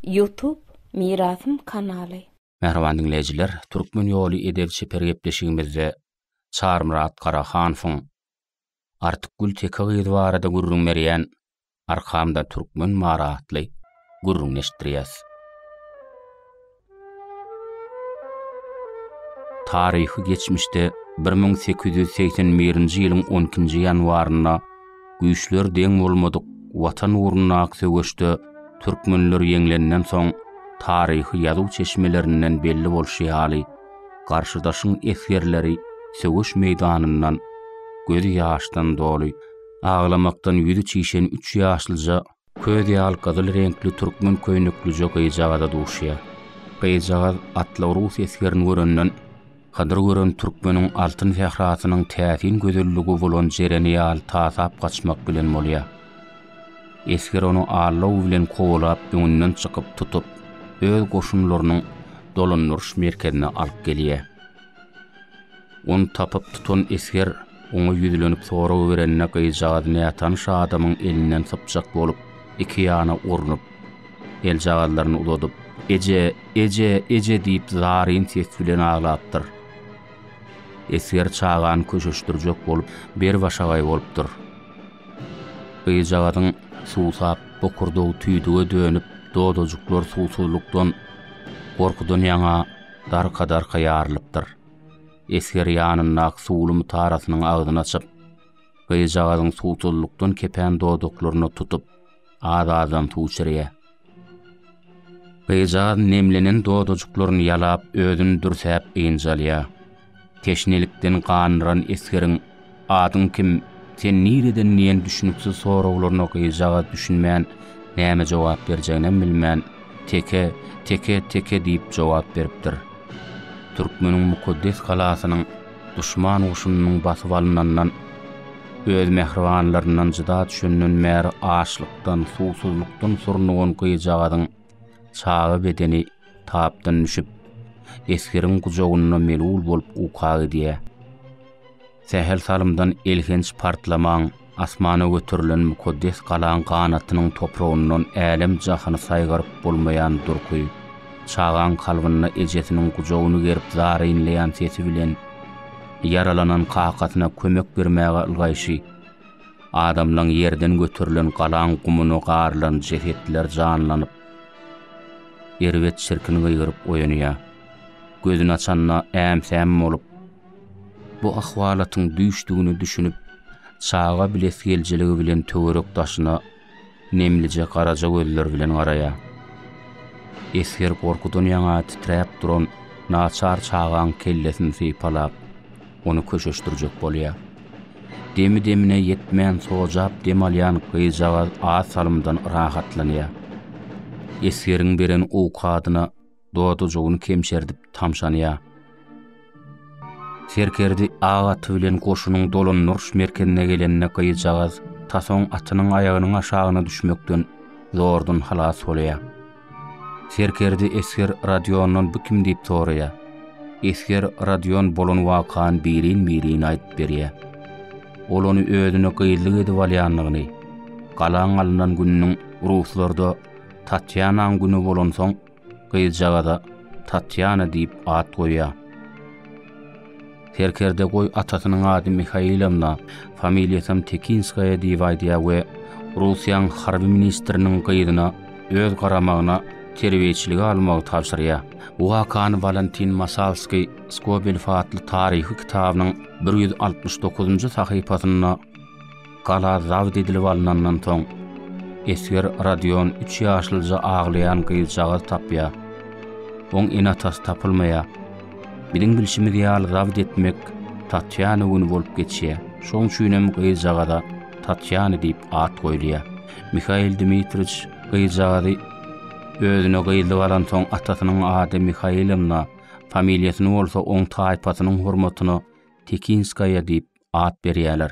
Ýutub Mirasym kanaly. Mähriban diňleýjiler, Türkmen ýoly edep-çeper gepleşigimizde Çarmyrat Garahanowyň Artykgül teke gyz barada gürrüň berýän Arkamda türkmen bar atly gürrüňini eşitdirýäs. Taryhy geçmişde bir müň sekiz ýüz segsen birinji ýylyň on ikinji ýanwarynda güýçleri deň bolmadyk Watan ugrundaky söweşde türkmenler ýeňlenden soň, taryhy ýazuw çeşmelerinden belli bolşy ýaly, garşydaşyň esgerleri söweş meýdanyndan gözi ýaşdan doly, aglamakdan ýüzi çişen üç ýaşlyja Köz ýal gyzyl reňkli türkmen köýneklije gyzjagaza duşýar. Gyzjagaz atly rus esgerini görenden, Hydyr gören türkmeniň altyn sährasynyň täsin gözelligi bolan jereni ýaly tasap gaçmak bilen bolýar. Esger ony allaw bilen kowalap öňünden çykyp tutup, öz goşunlarynyň dolandyryş merkezine alyp gelýär. Ony tapyp tutan esger oňa ýüzlenip sorag berende gyzjagaz nätanyş adamyň elinden sypjak bolup, iki ýana urnup, eljagazlaryny uzadyp, Eje, eje, eje diýip zaryn ses bilen aglapdyr. Esger çagany köşeşdirjek bolup, berbaşagaý bolupdyr. Gyzjagazyň suwsap, bokurdagy tüýdüge dönüp, dodajyklar suwsuzlykdan, gorkudan ýaňa darka-darka ýarylypdyr. Esger ýanyndaky suwly mutarasynyň agzyny açyp, gyzjagazyň suwsuzlykdan kepen dodaklaryna tutup, az-azdan suw içirýär. Gyzjagaz nemlenen dodajyklaryny ýalap, özüni dürsäp ynjalýar. Teşnelikden ganran esgeriň, Adyň kim, sen nireden diýen düşüniksiz soraglaryna gyzjagaz düşünmän, näme jogap berjeginem bilmän, Teke, teke, teke diýip jogap beripdir. Türkmeniň mukaddes galasynyň duşman goşunynyň basyp alynandan, öz mähribanlaryndan jyda düşenden bäri açlykdan, suwsuzlykdan surnugan gyzjagazyň, Çaga bedeni tapdan düşüp, esgeriň gujagynda melul bolup uka gidýär. Sähel salymdan elhenç partlamaň asmana göterilen mukaddes galaň ganatynyň topragyndan älem-jahany saýgaryp bolmaýan durky, çagaň kalbynda ejesiniň gujagyny gerip zar inleýän sesi bilen ýaralanan kakasyna kömek bermäge ylgaýşy, Adamlaň ýerden göterilen galaň gumuna garylan jesetler janlanyp, erbet çirkin gygyryp oýanýar. Gözüni açanda äm-säm bolup, bu ahwalatyň düýşdügini düşünip, çaga bilesigelijiligi bilen töwerek-daşyna Nemlije garaja gözler bilen garaýar. Esger gorkudan ýaňa titräp duran naçar çagaň kellesini sypalap, ony köşeşdirjek bolýar. Demi-demine ýetmän sojap dem alýan gyzjagaz az salymdan rahatlanýar. Esgeriň beren owkadyna dodajygyny kemşerdip tamşanýar. Serkerdi ak aty bilen goşunyň dolandyryş merkezine gelende gyzjagaz tasoň atynyň aýagynyň aşagyna düşmekden zordan halas bolýar. Serkerdi esger Radiondan bu kim diýip soraýar. Esger Radion bolan wakany birin-birin aýdyp berýär. Ol ony özüne gyzlyk edip alýandygyny, galaň alnan gününiň ruslarda Tatýanaň güni bolansoň, Gyzjagaza Tatýana diýip at goýýar. Serkerde goý atasynyň ady Mihailowna, familiýasam Tekinskaýa diýip aýdýar we Russiýanyň harby ministriniň gyzyna öz garamagyna terbiýeçiligi almagy tabşyrýar. Bu wakany Walentin Masalskiý Skobelew atly taryhy kitabynyň bir ýüz altmyş dokuzynjy sahypasynda Gala zabt edilip alnandan soň, esger Rodion üç ýaşlyja aglaýan gyzjagaz tapýar. Oň ene-atasy tapylmaýar. Biziň bilşimiz ýaly zabt etmek Tatýana güni bolup geçýär. Şoň üçinem gyzjagaza Tatýana diýip at goýulýar. Mihail Dmitriç gyzjagazy özüne gyzlyk alansoň atasynyň ady Mihailovna, familiýasyny bolsa oň taýpasynyň hormatyna Tekinskaýa diýip at berýärler.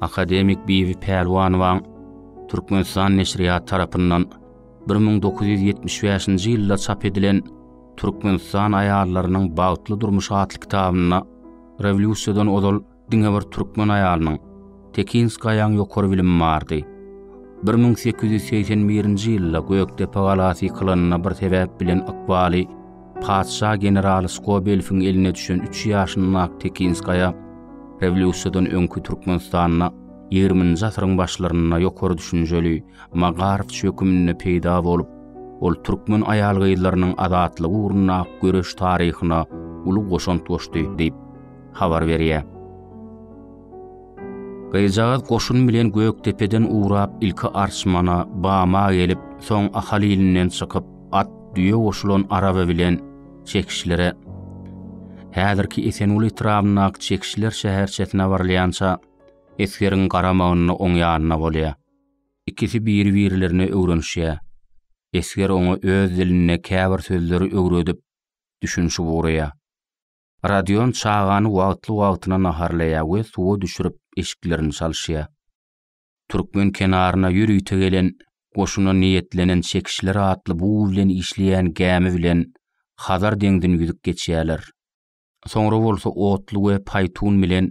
Akademik Bibi Pälwanowaň Türkmenistan neşirýat tarapyndan 1975-nji ýylda çap edilen Türkmenistan aýallarynyň bagtly durmuşy atly kitabynda rewolýusiýadan ozal diňe bir türkmen aýalynyň, Tekinskaýaň ýokary bilimi bardy. Bir müň sekiz ýüz segsen birinji ýylda Gökdepe galasy ýykylanda bir sebäp bilen ykbaly patyşa generaly Skobelewiň eline düşen üç ýaşyndaky Tekinskaýa rewolýusiýadan öňki Türkmenistanda ýigriminji asyryň başlarynda ýokary düşünjeli Magarowç höküminde peýda bolup, ol türkmen aýal-gyzlarynyň azatlygy ugrundaky göreş taryhyna uly goşant goşdy diýip, habar berýär. Gyzjagaz goşun bilen Gökdepeden ugrap, ilki Arçmana, Bama gelip, soň Ahal ilinden çykyp, at, düýe goşulan araba bilen Çekişlere, häzirki Esenguly etrabyndaky Çekişler şäherçesine barylýança, esgeriň garamagynda oň ýanynda bolýar. Ikisi biri-birlerine öwrenişýär. Esger oňa öz dilinde käbir sözleri öwredip, düşünişip ugraýar. Rodion çagany wagtly-wagtyna naharlaýar we suwa düşürip, eşiklerini çalyşýar. Türkmen kenaryna ýörite gelen goşuna niýetlenen çekişler atly bug bilen işleýän gämi bilen Hazar deňzini ýüzüp geçýärler. Soňra bolsa otly we paýtun bilen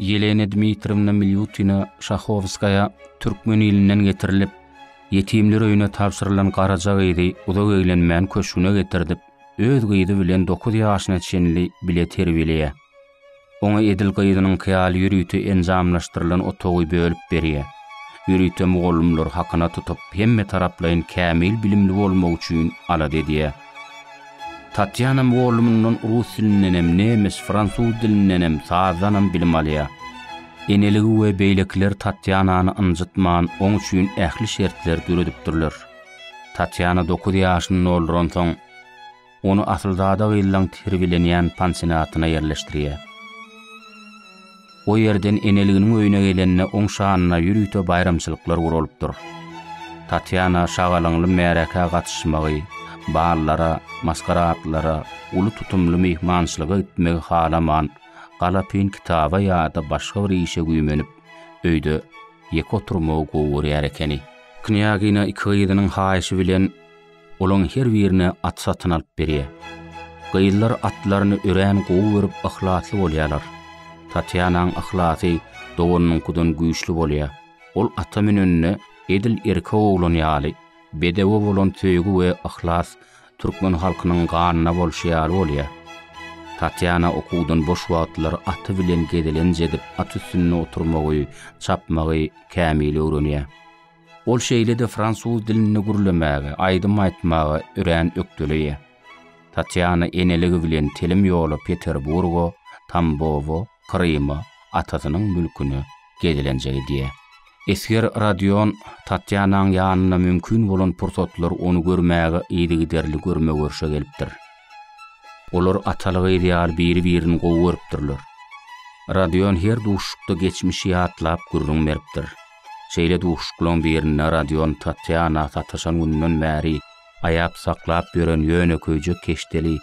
Ýelena Dmitriýewna Milýutina Şahowskaýa türkmen ilinden getirilip, ýetimler öýüne tabşyrylan garaja gyzy uzak eglenmän köşgüne getirdip, öz gyzy bilen dokuz ýaşyna çenli bile terbiýeleýär. Oňa edil gyzynyňky ýaly ýörite enjamlaşdyrylan otagy bölüp berýär. Ýörite mugallymlary hakyna tutup, hemme taraplaýyn kämil bilimli bolmagy üçin alada edýär. Tatýana mugallymyndan rus dilindenem, nemes, fransuz dilindenem, sazdanam bilim alýar. Eneligi we beýlekiler Tatýanany ynjytman, oň üçin ähli şertleri döredipdirler. Tatýana dokuz ýaşyny dolduransoň, ony asylzada gyzlaň terbiýelenýän pansionatyna ýerleşdirýär. O ýerden eneliginiň öýüne gelende oň şanyna ýörite baýramçylyklar guralypdyr. Tatýana şagalaňly märekä gatyşmagy, ballara, maskaradlara, uly tutumly myhmançylyga gitmegi halaman, galapyn kitaba ýa-da başga bir işe güýmenip, öýde ýeke oturmagy gowy görýär ekeni. Knýagina iki gyzynyň haýyşy bilen Olaň her birine at satyn alyp berýär. Gyzlar atlaryny örän gowy görüp yhlasly bolýarlar. Tatýanaň yhlasy doganynyňkydan güýçli bolýar. Ol ata münende edil erkek oglan ýaly, bedewe bolan söýgi we yhlas türkmen halkynyň ganyna bolşy ýaly bolýar. Tatýana okuwdan boş wagtlary aty bilen gezelenç edip at üstünde oturmagy, çapmagy kämil öwrenýär. Ol şeýle-de fransuz dilinde gürlemäge, aýdym aýtmaga örän ökdeleýär. Tatýana eneligi bilen telim ýola Peterburga, Tambowa, Kryma, atasynyň mülküne gezelenje gidýär. Esger Rodion Tatýanaň ýanyna mümkin bolan pursatlar ony görmäge yzygiderli görme-görşe gelipdir. Olar ataly-gyz ýaly biri-birini gowy görüpdirler. Rodion her duşuşykda geçmişi ýatlap gürrüň beripdir. Şeýle duşuşyklaryň birinde Rodion Tatýana sataşan gününden bäri aýap saklap ýören ýönekeýje keşdeli,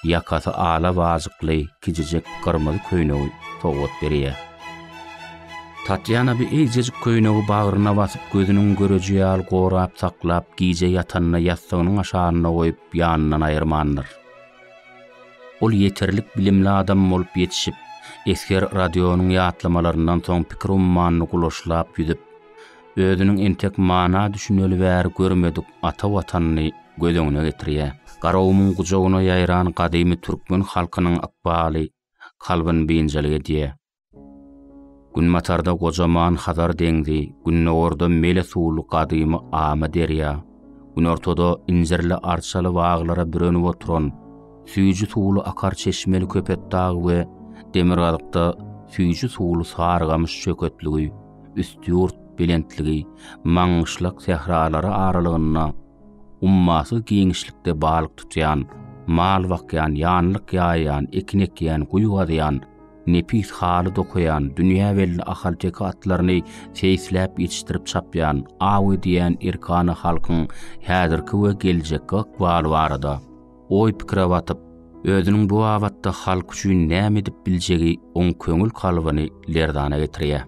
ýakasy ala wajykly kiçijek gyrmyzy köýnegi sowgat berýär. Tatýana bu eýjejik köýnegi bagryna basyp, gözüniň göreji ýaly gorap saklap, gije ýatanda ýassygynyň aşagynda goýup, ýanyndan aýyrmandyr. Ol ýeterlik bilimli adam bolup ýetişip, esger Rodionyň ýatlamalaryndan soň pikir ummanyny gulaşlap ýüzüp, özüniň entek mana düşüneli bäri görmedik ata Watanyny göz öňüne getirýär. Garagumyň gujagyna ýaýran gadymy türkmen halkynyň ykbaly kalbyny biynjalyk edýär. Günbatarda gojaman Hazar deňzi, gündogarda mele suwly gadymy Ama derýa, günortada injirli arçaly baglara bürenip oturan süýji suwly akar çeşmeli Köpetdag we demirgazykda süýji suwly Sarygamyş çöketligi, Üstýurt belentligi, Maňgyşlak sähralary aralygynda ummasyz giňişlikde balyk tutýan, mal bakýan, ýanlyk ýaýýan, ekin ekýän, guýy gazýan, nepis haly dokaýan, dünýä belli ahalteke atlaryny seýisläp ýetişdirip çapýan, aw edýän erkana halkyň häzirki we geljekki ykbaly barada oý-pikire batyp, özüniň bu babatda halk üçin näme edip biljegi oň köňül kalbyny lerzana getirýär.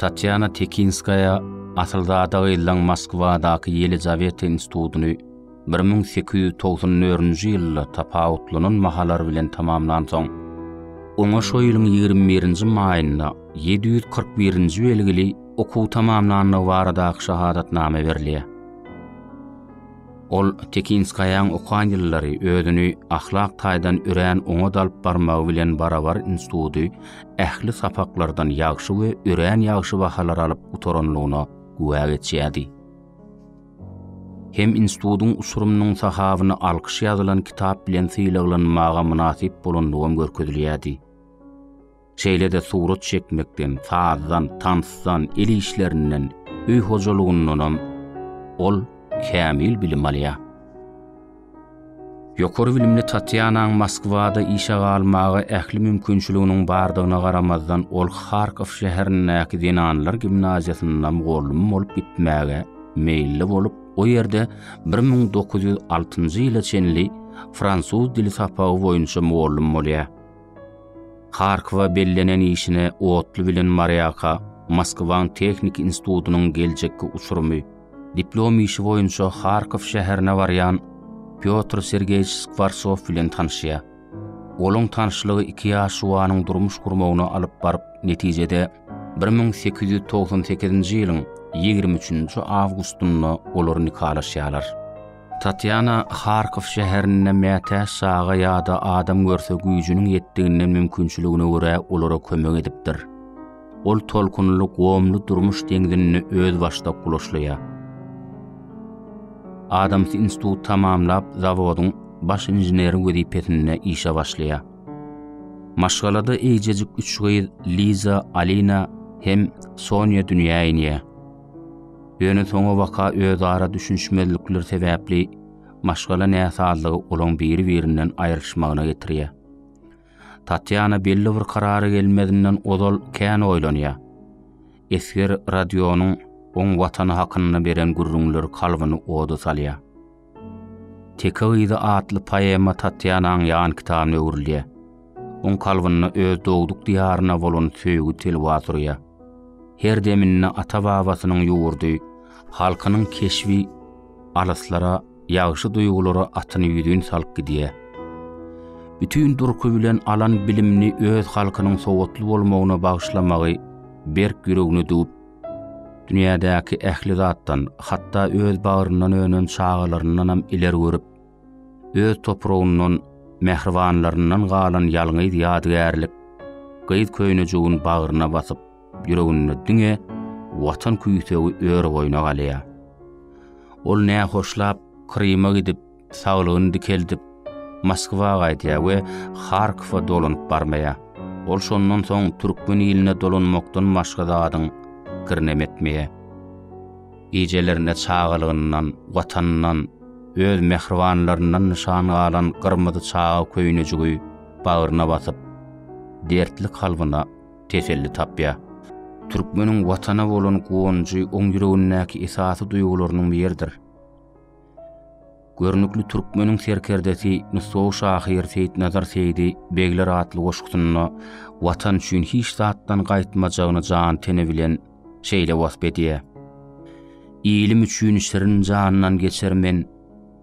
Tatýana Tekinskaýa asylzada gyzlaň Moskwadaky Ýelizaweta institutyny bir müň sekiz ýüz togsan dördünji ýylda tapawutlanan bahalar bilen tamamlansoň, oňa şo ýylyň ýigrimi birinji maýynda ýedi ýüz kyrk birinji belgili okuw tamamlandygy baradaky şahadatnama berilýär. Ol Tekinskaýanyň okan ýyllary özüni ahlak taýdan örän oňat alyp barmagy bilen barabar instituty ähli sapaklardan ýagşy we örän ýagşy bahalar alyp gutaranlygyna güwä geçýärdi. Hem institutyň uçurymynyň sahabyna alkyş ýazylan kitap bilen sylaglanmaga mynasyp bolanlygam görkezilýärdi. Şeýle-de surat çekmekden, sazdan, tansdan, el işlerinden, öý hojalygyndanam ol kämil bilim alýar. Ýokary bilimli Tatýanaň Moskwada işe galmaga ähli mümkinçiliginiň bardygyna garamazdan, ol Harkow şäherindäki zenanlar gimnaziýasynda mugallym bolup gitmäge meýilli bolup, o ýerde bir müň dokuz ýüz altynjy ýyla çenli fransuz dili sapagy boýunça mugallym bolýar. Harkowa bellenen işine otly bilen Marýaka Moskwaň tehniki institutynyň geljekki uçurymy, diplom işi boýunça Harkow şäherine barýan Pýotr Sergeýewiç Skwartsow bilen tanyşýar. Olaň tanyşlygy iki ýaş juwanyň durmuş gurmagyna alyp baryp, netijede, bir müň sekiz ýüz togsan sekizinji ýylyň ýigrimi üçünji awgustynda olar nikalaşýarlar. Tatýana Harkow şäherinde mätäç çaga ýa-da adam görse güýjüniň ýetdiginden mümkinçiligine görä olara kömek edipdir. Ol tolkunly gomly durmuş deňzinde özbaşdak ulaşlaýar. Adams institut tamamlap zawodyň baş inženeri wezipesinde işe başlaýar. Maşgalada eýjejik üç gyz Liza, Alina hem Sonýa dünýä inýär. Ýöne soňabaka özara düşünişmezlikler sebäpli maşgala näsazlygy olaň biri-birinden aýrylyşmagyna getirýär. Tatýana belli bir karara gelmezinden ozal kän oýlanýar. Esger Rodionyň oň watany hakynda beren gürrüňleri kalbyny oda salýar. Teke gyzy atly poema Tatýanaň ýan kitabyna öwrülýär. Oň kalbynda öz dogduk diýaryna bolan söýgi telwa surýar. Her deminde ata-babasynyň ýurdy, halkynyň keşbi alyslara, ýagşy duýgulara atyny ýüzin salyp gidýär. Bütin durky bilen alan bilimini öz halkynyň sowatly bolmagyna bagyşlamagy berk ýüregine düwüp, Dünýädäki ähli zatdan, hatda öz bagryndan önen çagalaryndanam ileri görüp, öz topragyndan, mähribanlaryndan galan ýalňyz ýadygärlik gyz köýnejigin bagryna basyp, ýüreginde diňe Watan küýsegi ör boýuna galýar. Ol nähoşlap, Kryma gidip, Saglygyny dikeldip, Moskwa gaýdýar we Harkowa dolanyp barmaýar. Ol şondan soň türkmen iline dolanmakdan başga zadyň kirinem etmeýär. Gijelerine çagalygyndan, Watanyndan, öz mähribanlaryndan nyşan galan gyrmyzy çaga köýnejigi bagryna basyp, dertli kalbyna teselli tapýar. Türkmeniň Watana bolan guwanjy oň ýüregindäki esasy duýgularynyň biridir. Görnükli türkmeniň serkerdesi, nusgawy şahyr Seýitnazar Seýdi begler atly goşgusynda Watan üçin hiç zatdan gaýtmajagyny jan-teni bilen şeýle wasp edýär, Ilim üçin şirin jandan geçer men,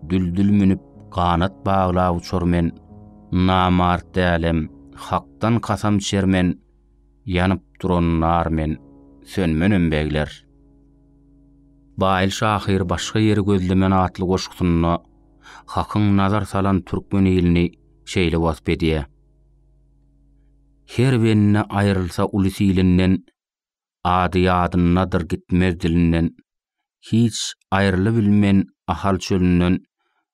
Düldül münüp, ganat baglap uçar men, Namart dälem, Hakdan kasam içer men, Ýanyp duran nar men, sönmenem begler. Baýly şahyr Başga ýeri gözlemen atly goşgusynda Hakyň nazar salan türkmen ilini şeýle wasp edýär, Her bende aýrylsa uly silinden, Ady ýadyndadyr gitmez dilinden, Hiç aýrylybilmen Ahal çölünden,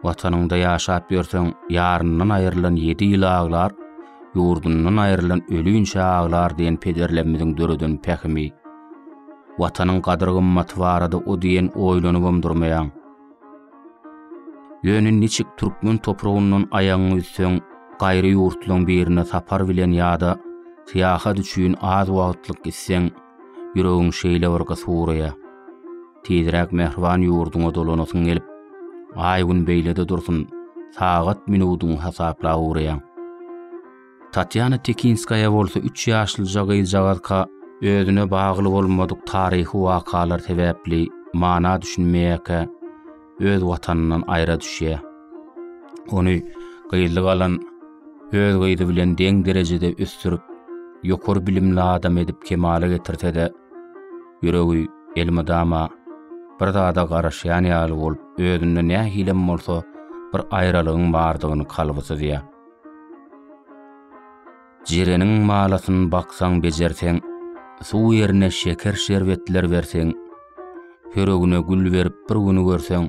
Watanyňda ýaşap ýörseň, ýaryndan aýrylan ýedi ýyl aglar, ýurdundan aýrylan ölinçä aglar diýen pederlerimiziň döreden pähimi. Watanyň gadyr-gymmaty barada o diýen oýlanybam durmaýaň. Ýöne niçik türkmen topragyndan aýagyňy üzseň, gaýry ýurtlaryň birine sapar bilen ýa-da syýahat üçin az wagtlyk gitseň, Ýüregiň şeýle bir gysy uraýa. Tizräk mähriban ýurduňa dolanasyň gelip, aý-gün beýlede dursun, sagat-minudyňy hasaplap uraýaň. Tatýana Tekinskaýa bolsa üç ýaşlyja gyzjagazka özüne bagly bolmadyk taryhy wakalar sebäpli mana düşünmeýärkä, öz watanyndan aýra düşýär. Ony gyzly galan öz gyzy bilen deň derejede ösdürip, ýokary bilimli adam edip kemala getirse-de, ýüregi elmydama bir zada garaşýan ýaly bolup, özünde nähilem bolsa bir aýralygyň bardygyny kalby syzýar. Jireniň malasyn baksaň bejerseň, Suw ýerine şeker şerbetler berseň, Ýüregine gül berip bir güni görseň,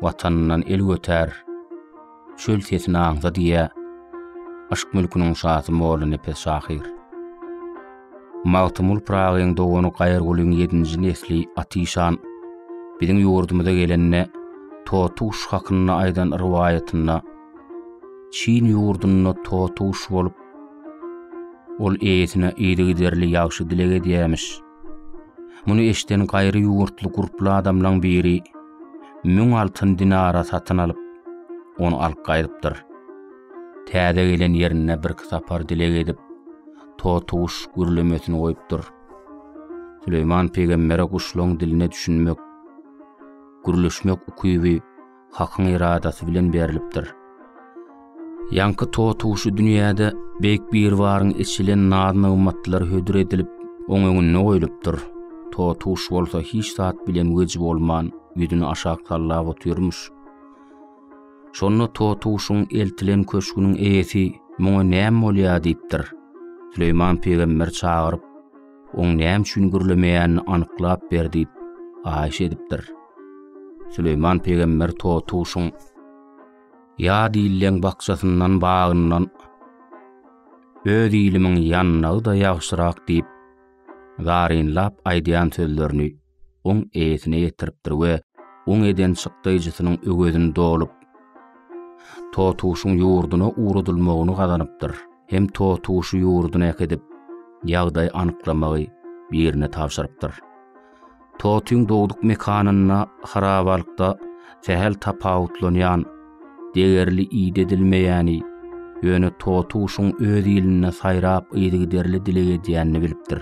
Watanyndan el götär, çöl sesini aňsa diýä, Yşk mülküniň şasy Molla Nepes şahyr. Magtymgul Pyragyň dogany Gaýyrgulyň ýedinji nesli Atyşan biziň ýurdumyza gelende Totuş hakynda aýdan rowaýatynda, Çin ýurdunda totuş bolup, ol eýesine yzygiderli ýagşy dileg edýämiş. Muny eşden gaýry ýurtly gurply adamlaň biri müň altyn dinara satyn alyp, ony alyp gaýdypdyr. Täze gelen ýerinde birki sapar dileg edip, totuş gürlemesini goýupdyr. Süleýman pygambere guşlaň diline düşünmek, gürleşmek ukyby Hakyň eradasy bilen berlipdir. Ýaňky totuşy dünýäde Beýik Biribaryň eçilen naz-nygmatlar hödür edilip, oň öňünde goýlupdyr. Totuş bolsa hiç zat bilen weji bolman, ýüzüni aşak sallap otyrmyş. Şonda totuşyň eltilen köşgüniň eýesi muňa näme bolýar diýipdir. Süleýman pygamber çagyryp, Oň näme üçin gürlemeýänini anyklap ber diýip haýyş edipdir. Süleýman pygamber totuşyň ýa diýilýän bakjasyndan bagyndan öz ilimiň ýannagy-da ýagşyrak diýip, zarynlap aýdýan sözlerini oň eýesine ýetiripdir we oň eden çykdaýjysynyň öwezini dolup, Totuşyň ýurduna ugradylmagyny gazanypdyr. Hem Totuşy ýurduna äkidip, ýagdaý anyklamagy birine tabşyrypdyr. Totyň dogduk mekanynda harabalykda sähel tapawutlanýan, degerli iýdi edilmeýäni, ýöne Totuşyň öz ilinde saýrap yzygiderli dileg edýänini bilipdir.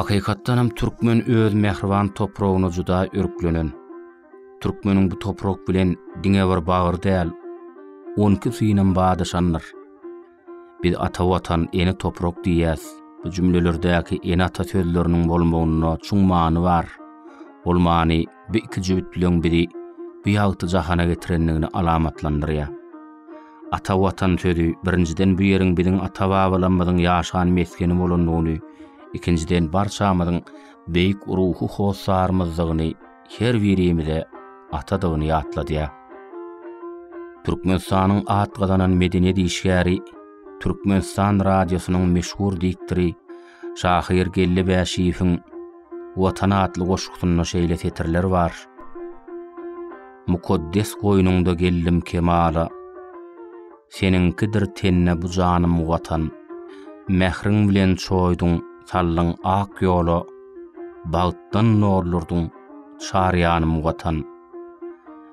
Hakykatdan hem türkmen öz mähriban topragyna juda örklenen. Türkmeniň bu toprak bilen diňe bir bagyr däl, on iki synam badyşandyr. Biz ata watan, ene toprak diýýäs. Bu jümlelerdäki ene-ata sözleriniň bolmagynda çuň many bar. Ol many bu iki jübüt bilen bizi bu ýagty jahana getirendigini alamatlandyrýar. Ata watan sözi birinjiden bu ýeriň biziň ata-babalarymyzyň ýaşan mesgeni bolandygyny, ikinjiden barçamyzyň beýik ruhy hossarymyzdygyny, her birimize atadygyny ýatladýar. Türkmenistanyň at gazanan medeniýet işgäri, Türkmenistan radiosynyň meşhur diktory şahyr Geldi Bäşiýewiň Watan atly goşgusynda şeýle setirler bar. Mukaddes goýnuňda geldim kemala. Seniňkidir tenne bu janym watan. Mähriň bilen çoýduň, saldyň ak ýola. Bagtdan nurlardyň çar ýanym watan.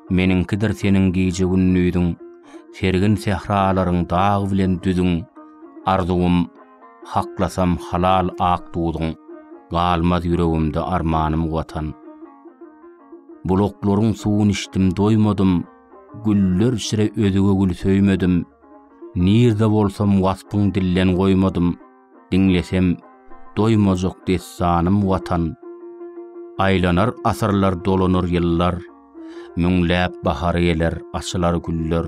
Meniňkidir seniň gije-gündiziň, Sergin sähralaryň dag bilen düzüň. Arzuwym, haklasam halal ak duzuň, Galmaz ýüregimde armanym watan. Bulaklaryň suwun içdim doýmadym, Güller içre özge gül söýmedim, Nirde bolsam waspyň dillen goýmadym. Diňlesem doýmajak dessanym Watan. Aýlanar asyrlar dolanar ýyllar, Müňläp bahar geler açylar güller.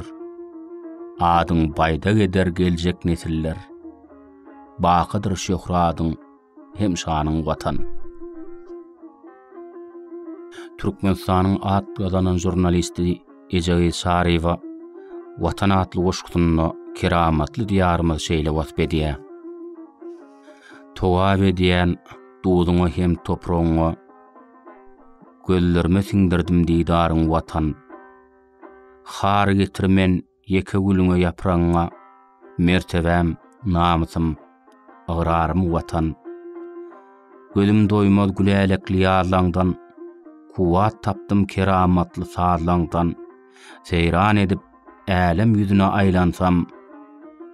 Adyň baýdak eder geljek nesiller, Bakydyr şöhradyň hem şanyň Watan. Türkmenistanyň at gazanan žurnalisti Ejegiz Çaryýewa Watan atly goşgusynda keramatly Diýarymyzy şeýle wasp edýär, Togap edýän duzuňa hem topragyňa, Gözlerime siňdirdim didaryň Watan. Har getir men Ýeke gülüňe ýapragyňa Mertebäm, namysym, ygrarym Watan! Gözüm doýmaz gülälekli ýazlaňdan, Kuwwat tapdym keramatly sazlaňdan. Seýran edip, älem ýüzüne aýlansam,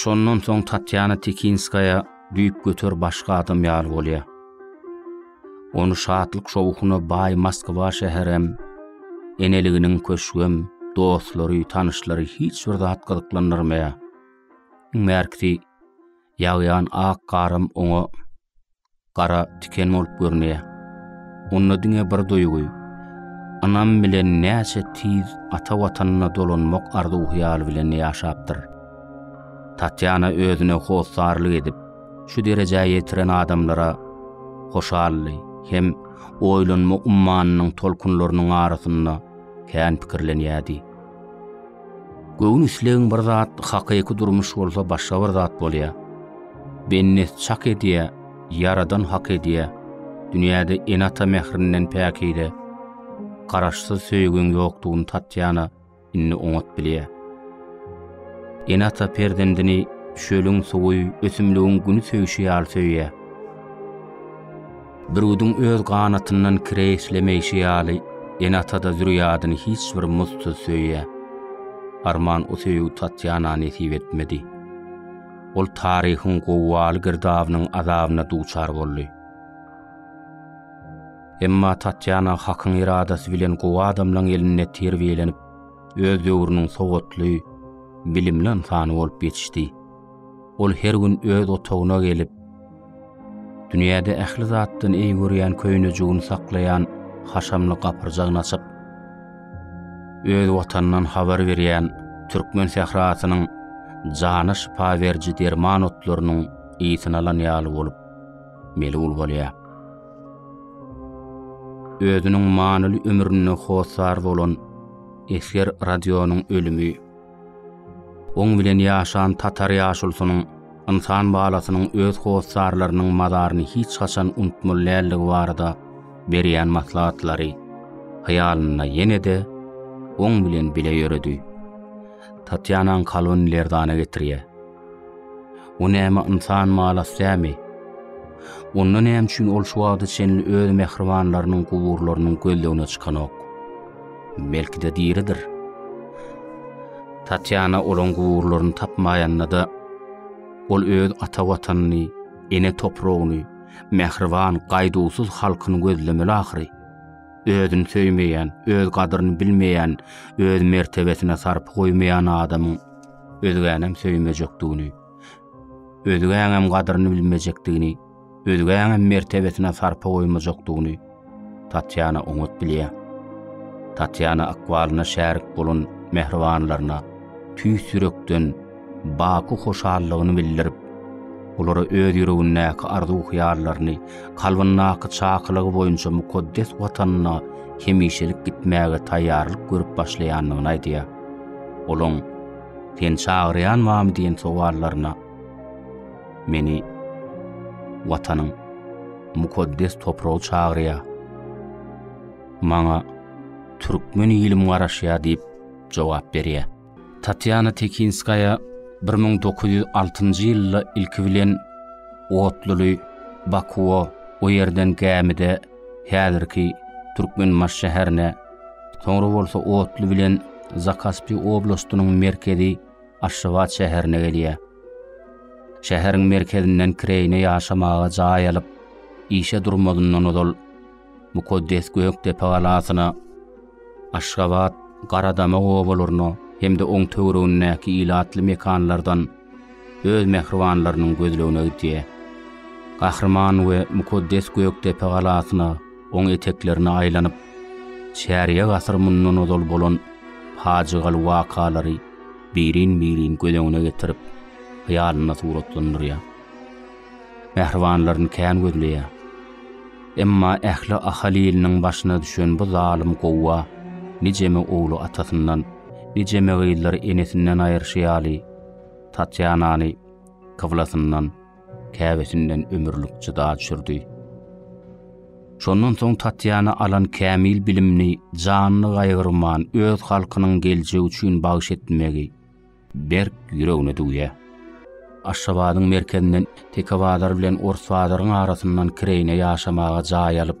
Şondan soň Tatýana Tikinskaýa düýpgöter başga adam ýaly bolýar. Ony şatlyk-şowhuna baý Moskwa şäherem, eneliginiň köşgem, dostlary, tanyşlary hiç bir zat gyzyklandyrmaýar. Iň bärkisi, ýagýan ak garam oňa gara tiken bolup görünýär. Onda diňe bir duýgy, ynam bilen näçe tiz ata watanyna dolanmak arzuw-hyýaly bilen ýaşapdyr. Tatýana özüne hossarlyk edip, şu derejä ýetiren adamlara hoşally hem oýlanma ummanynyň tolkunlarynyň arasynda kän pikirlenýärdi. Göwün islegiň bir zat, hakyky durmuş bolsa başga bir zat bolýar. Bennet çak edýär, Ýaradan hak edýär, dünýäde ene-ata mährinden päkide, Garaşsyz söýgiň ýokdugyny Tatýana indi oňat bilýär. Ene-ata perzendini çölüň suwy, ösümligiň güni söýşi ýaly söýýär. Bürgüdiň öz ganatyndan kire işlemeýşi ýaly, ene-ata-da zürýadyny hiç bir muzdsuz söýýär. Arman o söýgi Tatýana nesip etmedi. Ol taryhyň gowgaly girdabynyň azabyna duçar boldy. Emma Tatýana Hakyň eradasy bilen gowy adamlaryň elinde terbiýelenip, öz döwrüniň sowatly, bilimli ynsany bolup ýetişdi. Ol her gün öz otagyna gelip, dünýäde ähli zatdan eý görýän köýnejigini saklaýan haşamly gapyrjagyny açyp, öz Watanyndan habar berýän türkmen sährasynyň jana şypa beriji derman otlarynyň ysyny alan ýaly bolup, melul bolýar. Özüniň manyly ömründe hossar bolan esger Radionyň ölümi, Oň bilen ýaşan tatar ýaşulusynyň ynsan balasynyň öz hossarlarynyň mazaryny hiç haçan unutmaly däldigi barada berýän maslahatlary hyýalynda ýene-de oň bilen bile ýöredi. Tatýanaň kalbyny lerzana getirýär. Bu näme ynsan malas dämi? Onda näme üçin ol şu wagta çenli öz mähribanlarynyň guburlarynyň gözlegine çykanok? Belki-de diridir. Tatýana olaň guburlaryny tapmaýanda-da, ol öz ata watanyny, ene topragyny, mähriban, gaýduwsyz halkyny gözlemeli ahyry. Özüni söýmeýän, öz gadyryny bilmeýän, öz mertebesine sarpa goýmaýan adamyň özgänem söýmejekdigini, özgäňem gadyryny bilmejekdigini, özgäňem mertebesine sarpa goýmajakdygyny Tatýana oňat bilýär. Tatýana ykbalyna şärik bolan mähribanlaryna tüýs ýürekden baky hoşallygyny bildirip, olara öz ýüregindäki arzuw-hyýallaryny, kalbyndaky çakylygy boýunça mukaddes Watanyna hemişelik gitmäge taýýarlyk görüp başlaýandygyny aýdýar. Olaň Sen çagyrýan bamy diýen sowallaryna meni Watanyň mukaddes topragy çagyrýar. Maňa türkmen ilim garaşýar diýip jogap berýär. Tatýana Tekinskaýa 1906-njy ýylda ilki bilen Otluly, Bakuwa, o ýerden gämide häzirki Türkmenbaş şäherine Soňra bolsa otly bilen Zakaspi oblastynyň merkezi Aşgabat şäherine gelýär. Şäheriň merkezinden kireýine ýaşamaga jaý alyp, işe durmazyndan ozal mukaddes Gökdepe galasyna, Aşgabat, Garadama obalaryna hem-de oň töweregindäki ilatly mekanlardan Öz mähribanlarynyň gözlegine gidýär. Gahryman we mukaddes Gökdepe galasyna oň eteklerine aýlanyp, çärýek asyr mundan ozal bolan pajygaly wakalary birin-birin göz öňüne getirip, hyýalynda suratlandyrýar. Mähribanlaryny kän gözleýär. Emma ähli Ahal iliniň başyna düşen bu zalym gowga nijeme ogly atasyndan, nijeme gyzlary enesinden aýyrşy ýaly, Tatýanany kyblasyndan, käbesinden ömürlik jyda düşürdi. Şondan soň Tatýana alan kämil bilimini janyny gaýgyrman öz halkynyň geljegi üçin bagyş etmegi berk ýüregine düwýär. Aşgabadyň merkezinden Tekebazar bilen Orsbazaryň arasyndan kireýine ýaşamaga jaý alyp,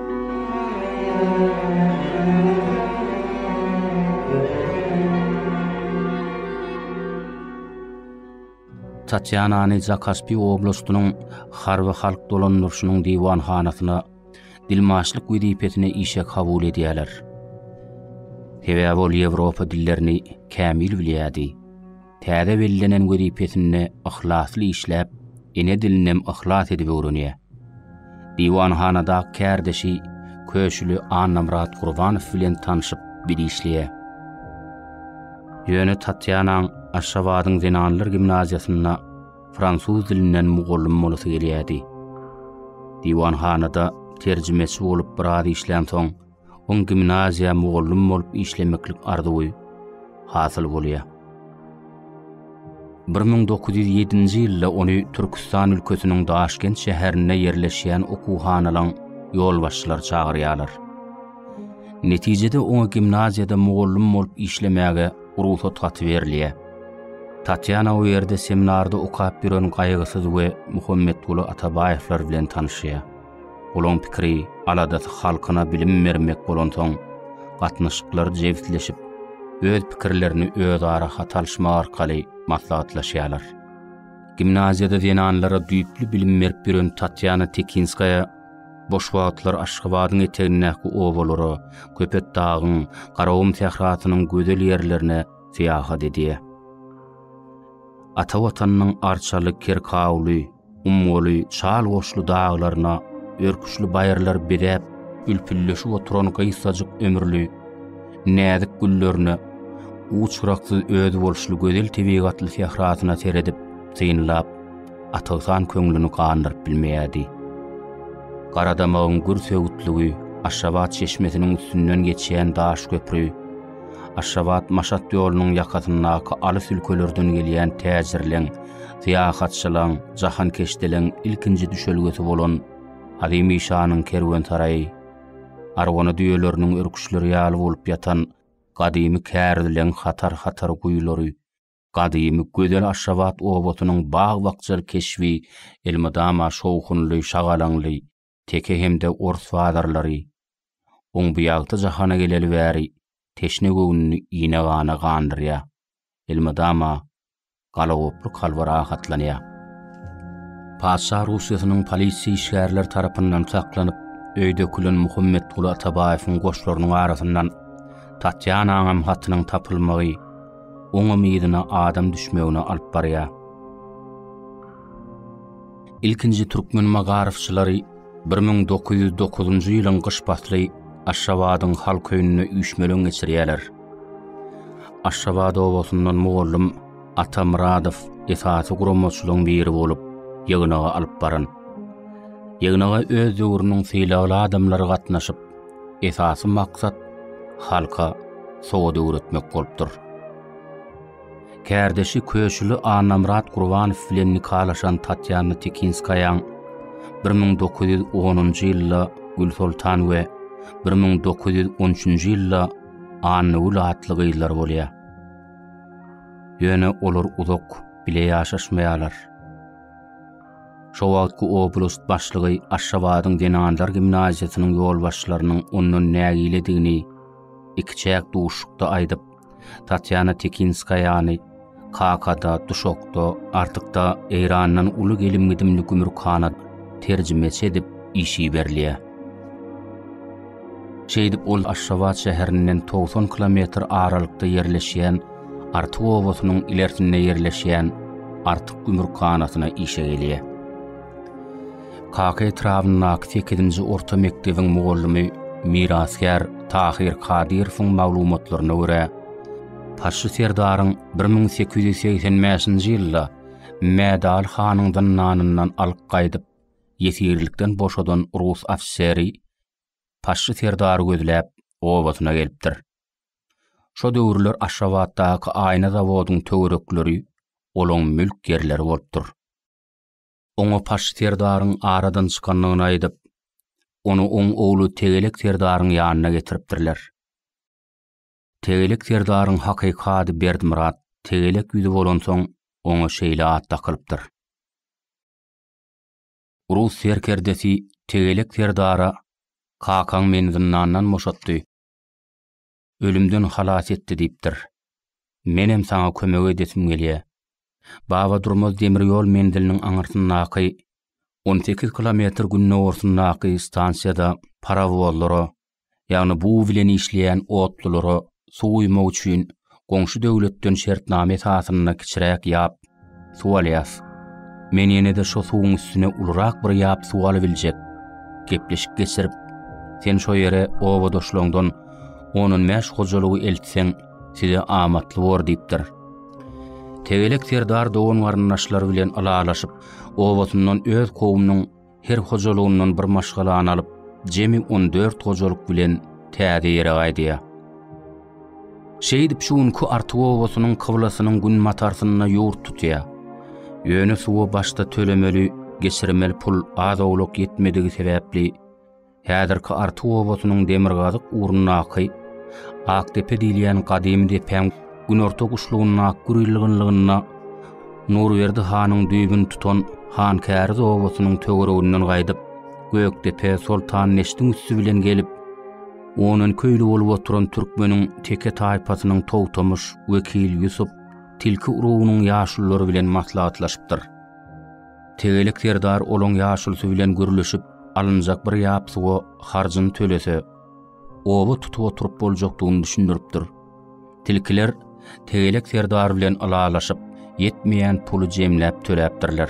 Tatýanany Zakaspiý oblastynyň Harby halk dolandyryşynyň diwanhanasyna dilmaçlyk wezipesine işe kabul edýärler. Sebäbi ol ýewropa dillerini kämil bilýärdi. Täze bellenen wezipesinde yhlasly işläp, ene dilinem yhlas edip öwrenýär. Diwanhanadaky kärdeşi Köşüli Annamyrat Gurbanow bilen tanşyp, bir işleýär. Ýöne Tatýanaň Aşgabadyň zenanlar gimnaziýasynda fransuz dilinden mugallym bolasy gelýärdi. Diwanhanada terjimeçi bolup biraz işlänsoň, Oň gimnaziýa mugallym bolup işlemeklik arzuwy hasyl bolýar. 1907-nji ýylda ony Türküstan ülkesiniň Daşkent şäherinde ýerleşýän okuwhanalaň ýolbaşçylary çagyrýarlar. Netijede oňa gimnaziýada mugallym bolup işlemäge rugsat haty berilýär. Tatýana o ýerde seminarda okap ýören Gaýgysyz we Muhammetguly Atabaýewler bilen tanyşýar. Olaň pikiri, aladasy halkyna bilim bermek bolansoň, gatnaşyklary jebisleşip, öz pikirlerini özara hat alyşmak arkaly maslahatlaşýarlar. Gimnaziýada zenanlara düýpli bilim berip ýören Tatýana Tekinskaýa boş wagtlary Aşgabadyň etegindäki obalara, Köpetdagyň, Garagum sährasynyň gözel ýerlerine syýahat edýär. Ata Watanynyň arçaly Kerkawly, Ummaly çal goşly daglaryna örküçli baýyrlar bezäp, ülpülleşip oturan gysgajyk ömürli, näzik güllerine, uç-gyraksyz özboluşly gözel tebigatly sährasyna seredip, synlap, Atyghan köňlüni gandyryp bilmeýärdi. Garadamagyň gür söwütligi, Aşgabat çeşmesiniň üstünden geçýän daş köpri, Aşgabat-Maşat ýolunyň ýakasyndaky alys ülkelerden gelýän täjirleň, syýahatçylaň, jahankeşdeleň ilkinji düşelgesi bolan Halymy şanyň kerwensaraýy, arwana düýeleriniň örküçleri ýaly bolup ýatan gadymy kärdeläň hatar-hatar guýulary, gadymy gözel Aşgabat obasynyň bag-bakja keşbi elmydama şowhunly, şagalaňly, teke hem-de ors bazarlary, oň bu ýagty jahana geleli bäri teşne göwnüni ine-gana gandyrýar, elmydama galagoply kalby rahatlanýar. Patyşa Russiýasynyň polisiýa işgärleri tarapyndan saklanyp, öýe dökülen Muhammetguly Atabaýewiň goşlarynyň arasyndan Tatýanaňam hatynyň tapylmagy oňam yzyna adam düşmegine alyp barýar. Ilkinji türkmen magaryfçylary bir müň dokuz ýüz dokuzynjy ýylyň gyş pasly Aşgabadyň halk öýünde üýşmeleň geçirýärler. Aşgabat obasyndan mugallym Ata Myradow esasy guramaçylaryň biri bolup, ýygnagy alyp baran. Ýygnaga öz döwrüniň sylagly adamlary gatnaşyp, esasy maksat halka sowat öwretmek bolupdyr. Kärdeşi Köşüli Annamyrat Gurbanow bilen nikalaşan Tatýana Tekinskaýaň bir müň dokuz ýüz onunjy ýylda Gülsoltan we bir müň dokuz ýüz on üçünji ýylda Annagül atly gyzlary bolýar. Ýöne olar uzak bile ýaşaşmaýarlar. Şo wagtky oblast başlygy Aşgabadyň zenanlar gimnaziýasynyň ýolbaşçylarynyň ondan nägiledigini ikiçäk duşuşykda aýdyp, Tatýana Tekinskaýany Kakada, Duşokda, Artykda Eýrandan uly gelim-gidimli gümrükhana terjimeçi edip iş iberilýär. Şeýdip ol Aşgabat şäherinden togsan kilometr aralykda ýerleşýän Artyk obasynyň ilersinde ýerleşýän Artyk gümrükhanasyna işe gelýär. Kaka etrabyndaky sekizinji orta mekdebiň mugallymy mirasgär Tahyr Kadyrowyň maglumatlaryna görä, Paşşy serdaryň bir müň sekiz ýüz segsen bäşinji ýylda Mädaly hanyň zyndanyndan alyp gaýdyp, ýesirlikden boşadan rus ofiseri Paşşy serdary gözläp, obasyna gelipdir. Şo döwürler Aşgabatdaky aýna zawodyň töwerekleri olaň mülk ýerleri bolupdyr. Oňa Paşy serdaryň aradan çykandygyny aýdyp, ony oň ogly Tegelek serdaryň ýanyna getiripdirler. Tegelek serdaryň hakyky ady Berdmyrat Tegelek ýüzi bolansoň, oňa şeýle at dakylypdyr. Rus serkerdesi Tegelek serdara Kakaň meni zyndandan boşatdy. ölümden halas etdi diýipdir. Menem saňa kömek edesim gelýä. Baba Durmaz demir ýol menziliniň aňyrsyndaky on sekiz kilometr gündogarsyndaky stansiýada parowozlara, ýagny bug bilen işleýän otlulara suw guýmak üçin goňşy döwletden şertnama esasynda kiçiräk ýap Suw alýas. Men ýene-de şo suwuň üstüne ulurak bir ýap suw alybiljek gepleşik geçirip, sen şo ýere obadaşlaňdan on-on bäş hojalygy eltseň, size amatly bor diýipdir. Tegelek serdar dogan-garyndaşlary bilen ylalaşyp, obasyndan öz kowumynyň her hojalygyndan bir maşgalany alyp, jemi on dört hojalyk bilen täze ýere gaýdýar. Şeýdip şu günki Artyk obasynyň kyblasynyň günbatarsynda ýurt tutýar. Ýöne suwa başda tölemeli, geçirmeli pul az-owlak ýetmedigi sebäpli, Häzirki Artyk obasynyň demirgazyk ugrundaky Akdepe diýilýän gadymy depäň günorta guşlugyndaky gürülgünliginde Nurberdi hanyň düýbüni tutan Hankäriz obasynyň töwereginden gaýdyp, Gökdepe, Soltandeşdiň üsti bilen gelip, onan köýli bolup oturan türkmeniň teke taýpasynyň Togtamyş, Wekil, Ýusup, Tilki urugynyň ýaşululary bilen maslahatlaşypdyr. Tegelek serdar olaň ýaşulysy bilen gürleşip, alynjak bir ýap suwa harjyny tölese, oba tutup oturyp boljakdygyny düşündiripdir. Tilkiler Tegelek serdar bilen ylalaşyp, ýetmeýän puly jemläp töläpdirler.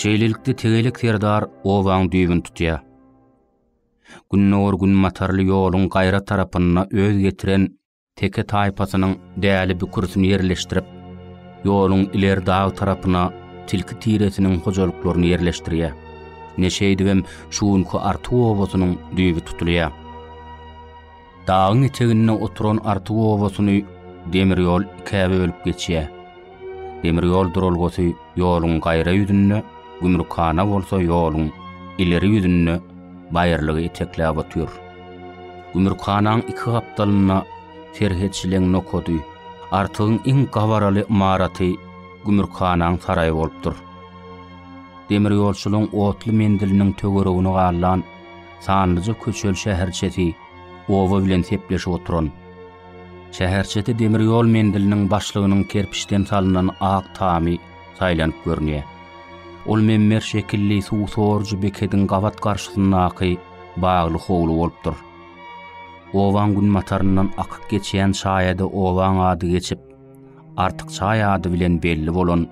Şeýlelikde tegelek serdar obaň düýbüni tutýar. Gündogar gün matarly ýoluň gaýra tarapynda öz getiren teke taýpasynyň däli bükürsini ýerleşdirip, ýoluň ileri dag tarapyna tilki tiresiniň hojalyklaryny ýerleşdirýär. Ine şeýdibem şu günki Artuw obasynyň düýbi tutulýar. Dagyň eteginde oturan Artyk obasyny demir ýol ikä bölüp geçýär. Demir ýol duralgasy ýoluň gaýra ýüzünde, gümrükhana bolsa ýoluň ileri ýüzünde baýyrlygy etekläp otyr. Gümrükhanaň iki gapdalynda serhetçiligiň nokady, Artygyň iň gabaraly ymaraty gümrükhanaň saraýy bolupdyr. Demirýolçylygyň otly menziliniň töweregini gallan Sanlyja köçeli şäherçesi oba bilen sepleşip oturan. Şäherçede demir ýol menziliniň başlygynyň kerpiçden salnan ak tamy saýlanyp görünýär. Ol memmer şekilli suw sorujy bekediň gabat garşysyndaky bagly howly bolupdyr. Obaň günbataryndan akyp geçýän çaýada obaň ady geçip, Artyk çaý ady bilen belli bolan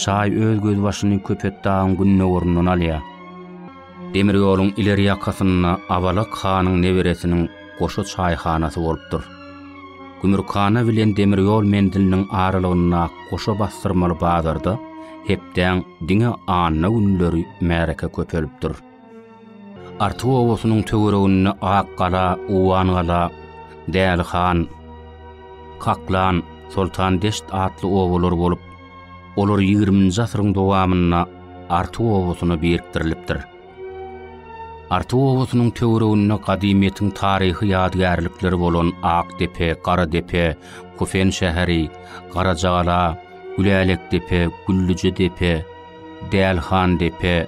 çaý öz gözbaşyny Köpetdagyň gündogaryndan alýar. Demir ýoluň ileri ýakasynda Abalak hanyň neberesiniň goşa çaýhanasy bolupdyr. Gümürkhana bilen demir ýol menziliniň aralygyndaky goşa basdyrmaly bazarda hepdäň diňe anna günleri märeke köpelipdir. Artyk obasynyň töwereginde Akgala, Owangala, Dälihan, Kaklan, Soltandeşt atly obalar bolup, olar ýigriminji asyryň dowamynda Artyk obasyna birikdirilipdir. Artyk obasynyň töwereginde gadymyýetiň taryhy ýadygärlikleri bolan Akdepe, Garadepe, Kufen şäheri, Garajagala, Gülälekdepe, Güllüjedepe, Dälihandepe,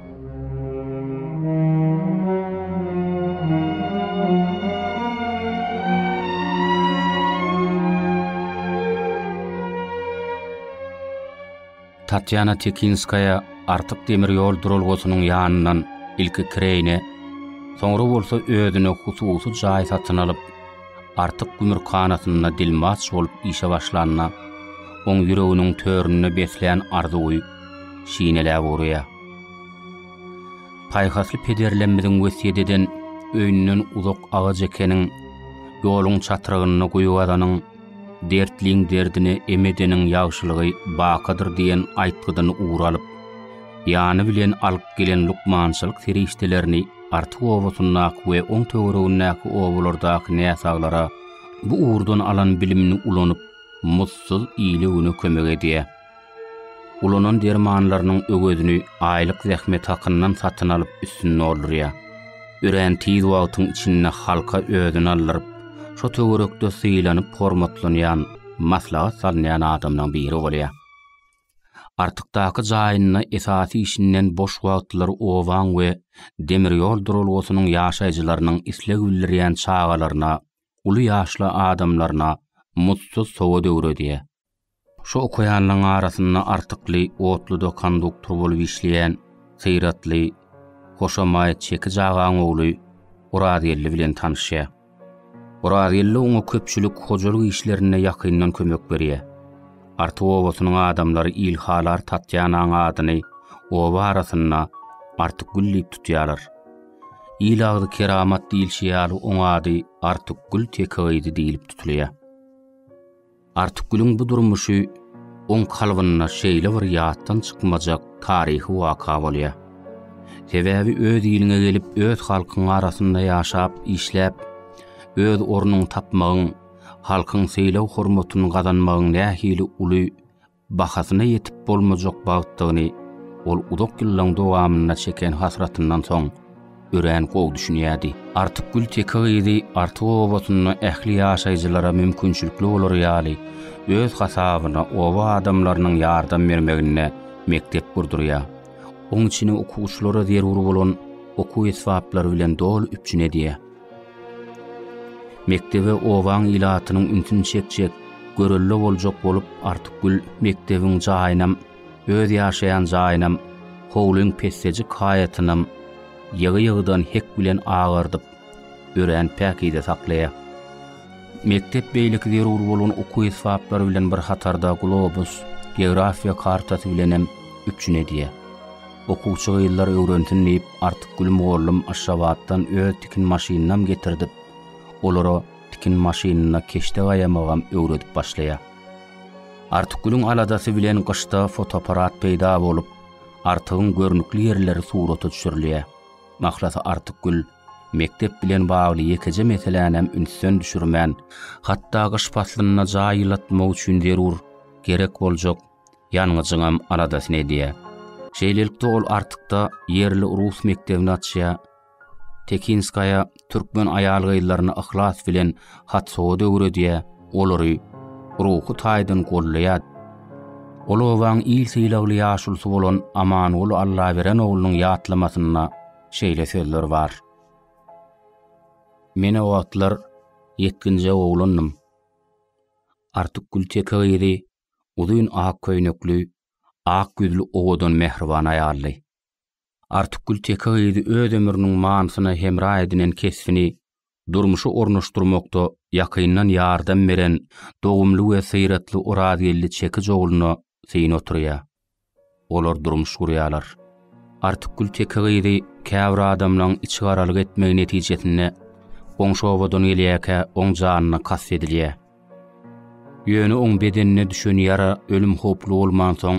Tatýana Tekinskaýa Artyk demir ýol duralgasynyň ýanyndan ilki kireýine, soňra bolsa özüne hususy jaý satyn alyp, Artyk gümrükhanasynda dilmaç bolup işe başlanda, oň ýüreginiň töründe beslän arzuwy, şineläp urýar. Paýhasly pederlerimiziň wesýet eden öýünden uzak agaç ekeniň, ýoluň çatrygynda guýy gazanyň, dertliň derdine em edeniň ýagşylygy bakadyr diýen aýtgydan ugur alyp, ýany bilen alyp gelen lukmançylyk serişdelerini Artyk obasyndaky we oň töweregindäki obalardaky näsaglara bu ugurdan alan bilimini ulanyp, mussuz ile-güne kömek edýär. Ulanan dermanlarynyň öwezini aýlyk zähmet hakyndan satyn alyp üstüni doldurýar. Örän tiz wagtyň içinde halka özüni aldyryp, şo töwerekde sylanyp hormatlanýan, maslahat salynýan adamlaryň biri bolýar. Artykdaky jaýynda esasy işinden boş wagtlary obaň we demir ýol duralgasynyň ýaşaýjylarynyň isleg bildirýän çagalaryna, uly ýaşly adamlaryna muzdsuz sowat öwredýär. Şu okaýanlaryň arasynda artykly otluda konduktor bolup işleýän Syratly, hoşamaýat çekiç agaň ogly Orazgeldi bilen tanyşýar. Orazgeldi oňa köpçülik hojalyk işlerinde ýakyndan kömek berýär. Artyk obasynyň adamlary Ilhalar Tatýanaň adyny oba arasynda Artykgül diýip tutýarlar. Il agzy keramat diýilşi ýaly oň ady Artykgül teke gyzy diýlip tutulýar. Artykgülüň bu durmuşy oň kalbynda şeýle bir ýatdan çykmajak taryhy waka bolýar. Sebäbi öz iliňe gelip, öz halkyň arasynda ýaşap, işläp, öz ornuňy tapmagyň, halkyň sylag-hormatyny gazanmagyň nähili uly bahasyna ýetip bolmajak bagtdygyny ol uzak ýyllaryň dowamynda çeken hasratyndan soň örän gowy düşünýärdi. Artykgül teke gyzy Artyk obasynda ähli ýaşaýjylara mümkinçilikli bolary ýaly, öz hasabyna oba adamlarynyň ýardam bermeginde mekdep gurdurýar. Oň içini okuwçylara zerur bolan okuw esbaplary bilen doly üpjün edýär. Mekdebe obaň ilatynyň ünsüni çekjek, görelde boljak bolup Artykgül mekdebiň jaýynam, öz ýaşaýan jaýynam, howlyň pessejik haýatynam ýygy-ýygydan hek bilen agardyp, örän päkize saklaýar. Mekdep beýleki zerur bolan okuw esbaplary bilen bir hatarda globus, geografiýa kartasy bilenem üpjün edýär. Okuwçy gyzlar öwrensin diýip Artykgül mugallym Aşgabatdan öz tikin maşynynam getirdip, olara tikin maşynynda keşde gaýamagam öwredip başlaýar. Artykgülüň aladasy bilen gyşda fotoapparat peýda bolup, Artygyň görnükli ýerleri surata düşürilýär. Mahlasy Artykgül mekdep bilen bagly ýekeje meselänäm ünsden düşürmän, hatda gyş paslynda jaý ýylatmak üçin zerur, gerek boljak ýangyjyňam aladasyny edýär. Şeýlelikde ol Artykda ýerli rus mekdebini açýar. Tekinskaýa türkmen aýal-gyzlaryna yhlas bilen hat-sowat öwredýär, olary ruhy taýdan goldaýar. Ol obaň il sylagly ýaşulusy bolan Amanguly Allaberen oglunyň ýatlamasynda şeýle sözler bar. Men o wagtlar ýetginjek oglandym. Artyk Gülteke gyzy uzyn ak köýnekli, ak ýüzli owadan mähriban aýaldy. Artykgül teke gyzy öz ömrüniň manysyna hemra edinen kesbini durmuşa ornaşdyrmakda ýakyndan ýardam beren dogumly we syratly Orazgeldi çekiç ogluna syn oturýar. Olar durmuş gurýarlar. Artykgül teke gyzy käbir adamlaryň içigaralyk etmegi netijesinde goňşy obadan gelýärkä oň janyna kast edilýär. Ýöne oň bedenine düşen ýara ölüm howply bolmansoň,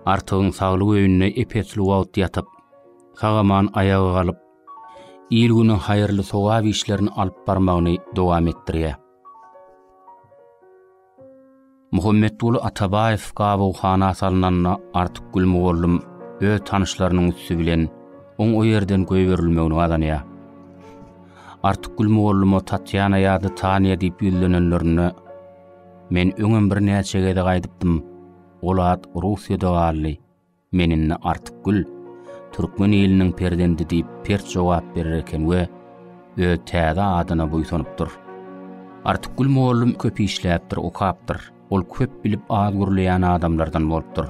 Artygyň saglyk öýünde ep-esli wagt ýatyp, sag-aman aýaga galyp, il-güne haýyrly sogap işlerini alyp barmagyny dowam etdirýär. Muhammetguly Atabaýew gabawhana salnanda Artyk Gülmugallym öz tanyşlarynyň üsti bilen oň o ýerden goýberilmegini gazanýar. Artyk Gülmugallyma Tatýana ýa-da Taniýa diýip ýüzlenenlerinde, Men öňem birnäçe gezek aýdypdym, ol at Russiýada galdy. Men indi Artykgül, türkmen iliniň perzendi diýip pert jogap berer eken we öz täze adyna buýsanypdyr. Artykgül mugallym köp işläpdir, okapdyr. Ol köp bilip az gürleýän adamlardan bolupdyr.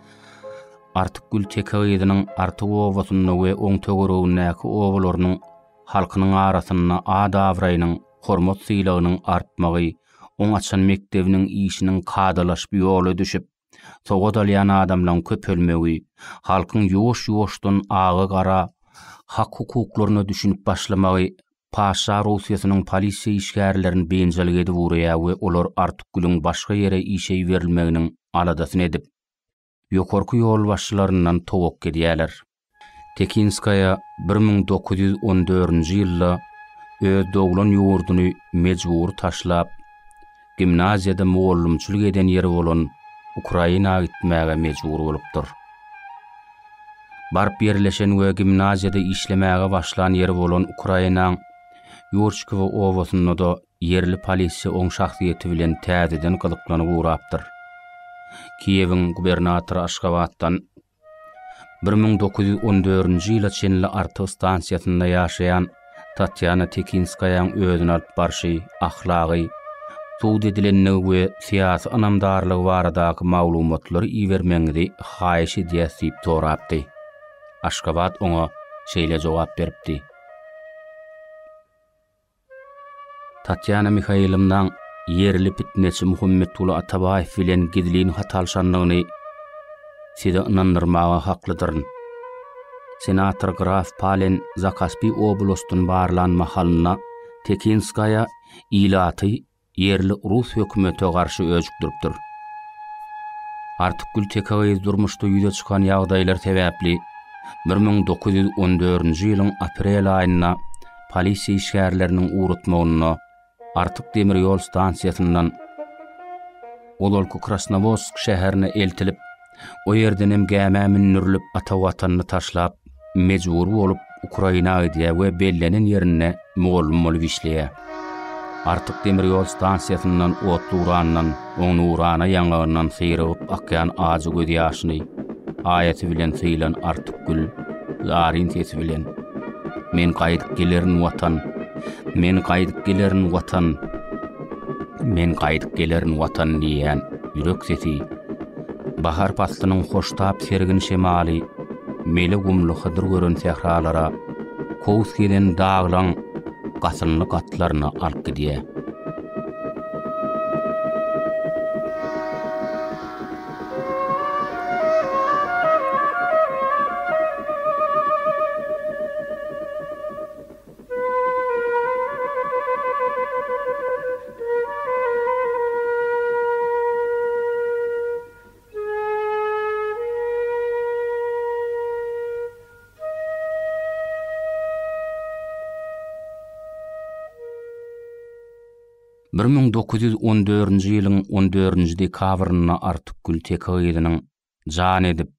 Artykgül teke gyzynyň Artyk obasynda we oň töweregindäki obalarynyň halkynyň arasynda at-abraýynyň, hormat-sylagynyň artmagy, oň açan mekdebiniň işiniň kadalaşyp ýola düşüp, sowat alýan adamlaryň köpelmegi, halkyň ýuwaş-ýuwaşdan aga-gara hak-hukuklaryna düşünip başlamagy Paşşa Russiýasynyň polisiýa işgärlerini biynjalyk edip urýar we olar Artykgülüň başga ýere işe iberilmeginiň aladasyny edip, ýokarky ýolbaşçylaryndan towakga edýärler. Tekinskaýa bir müň dokuz ýüz on dördünji ýylda öz doglan ýurduny mejbury taşlap, gimnaziýada mugallymçylyk eden ýeri bolan Ukraina gitmäge mejbur bolupdyr. Baryp ýerleşen we gimnaziýada işlemäge başlan ýeri bolan Ukrainaň Ýurçkowo obasynda-da ýerli polisiýa oň şahsyýeti bilen täzeden gyzyklanyp ugrapdyr. Kiýewiň gubernatory Aşgabatdan Bir müň dokuz ýüz on dördünji ýyla çenli Artyk stansiýasynda ýaşaýan Tatýana Tekinskaýaň özüni alyp barşy, ahlagy, sud edilendigi we syýasy ynamdarlygy baradaky maglumatlary ibermegiňizi haýyş edýäs diýip sorapdy. Aşgabat oňa şeýle jogap beripdi. Tatýana Mihaýlownaň ýerli pitneçi Muhammetguly Atabaýew bilen gizlin hat alşandygyny sizi ynandyrmaga haklydyryn. Senator graf Palen Zakaspi oblastyn barlan mahalynda Tekinskaýa ilaty Ýerli rus hökümete garşy öjükdiripdir. Artykgül teke gyz durmuşda ýüze çykan ýagdaýlar sebäpli bir müň dokuz ýüz on dördünji ýylyň aprel aýynda polisiýa işgärleriniň ugratmagynda Artyk demir ýol stansiýasyndan ozalky Krasnowodsk şäherine eltilip, O ýerdenem gämä mündürilip ata watanyny taşlap, mejbury bolup Ukraina gidýär we bellenen ýerinde mugallym bolup işleýär. Artyk demir ýol stansiýasyndan otly-urandan, oň nurana ýaňagyndan syrygyp akýan ajy göz ýaşyny aýasy bilen sylan Artyk gül, zaryn sesi bilen, Men gaýdyp gelerin watan, men gaýdyp gelerin watan, men gaýdyp gelerin watan diýýän ýürek sesi, Bahar paslynyň hoştap sergin şemaly mele gumly hydyr gören sähralara, kowus gezen daglaň gasynly gatlaryna alyp gidýär. Bir müň dokuz ýüz on dördünji ýylyň on dördünji dekabrynda Artukgül Teke gyzynyň jan edip,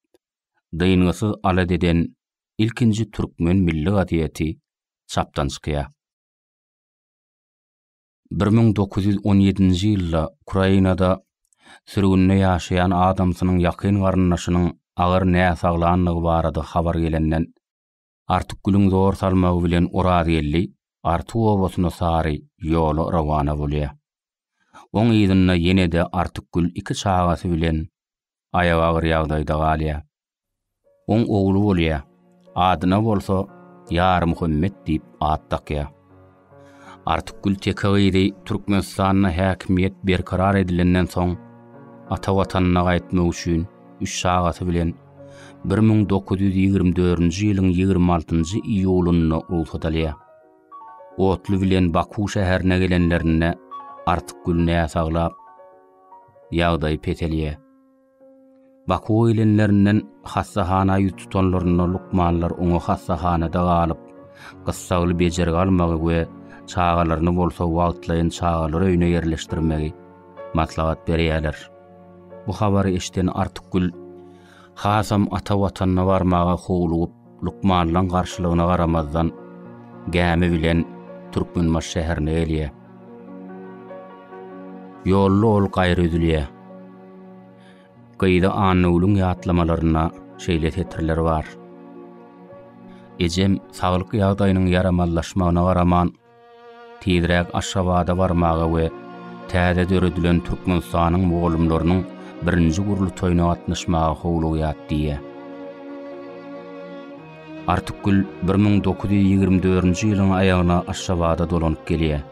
dyngysyz alat eden ilkinji türkmen milli gazeti çapdan çykýar. Bir müň dokuz ýüz on ýedinji ýylda Ukrainada sürgünde ýaşaýan adamsynyň ýakyn garyndaşynyň agyr näsaglandygy barada habar gelenden, Artykgülüň zor salmagy bilen Orazgeldi Artyk obasyna sary ýola rowana bolýar. Oň yzynda ýene-de Artykgül iki çagasy bilen aýaga agyr ýagdaýda galýar. Oň ogly bolýar. Adyna bolsa Ýarmuhammet diýip at dakýar. Artykgül teke gyzy Türkmenistanda häkimiýet berkarar edilenden soň, ata watanyna gaýtmak üçin üç çagasy bilen bir müň dokuz ýüz ýigrimi dördünji ýylyň ýigrimi altynjy iýulynda rugsat alýar. Otly bilen Baku şäherine gelenlerinde Artykgül näsaglap, ýagdaýy peselýär. Bakuwa gelenlerinden hassahana ýüz tutanlarynda lukmanlar oňa hassahanada galyp, gyssagly bejergi almagy we çagalaryny bolsa wagtlaýyn çagalar öýüne ýerleşdirmegi maslahat berýärler. Bu habary eşiden Artykgül hasam ata Watanyna barmaga howlugyp, Lukmanlaň garşylygyna garamazdan, gämi bilen Türkmenbaşy şäherine gelýär. Ýolda ol gaýra üzülýär. Gyzy Annagülüň ýatlamalarynda şeýle setirler bar. Ejem saglyk ýagdaýynyň ýaramazlaşmagyna garaman, Tizräk Aşgabada barmaga we täze döredilen Türkmenistanyň mugallymlarynyň birinji gurultaýyna gatnaşmaga howlugýat diýýä. Artykgül bir müň dokuz ýüz ýigrimi dördünji ýylyň aýagyna Aşgabada dolanyp gelýär.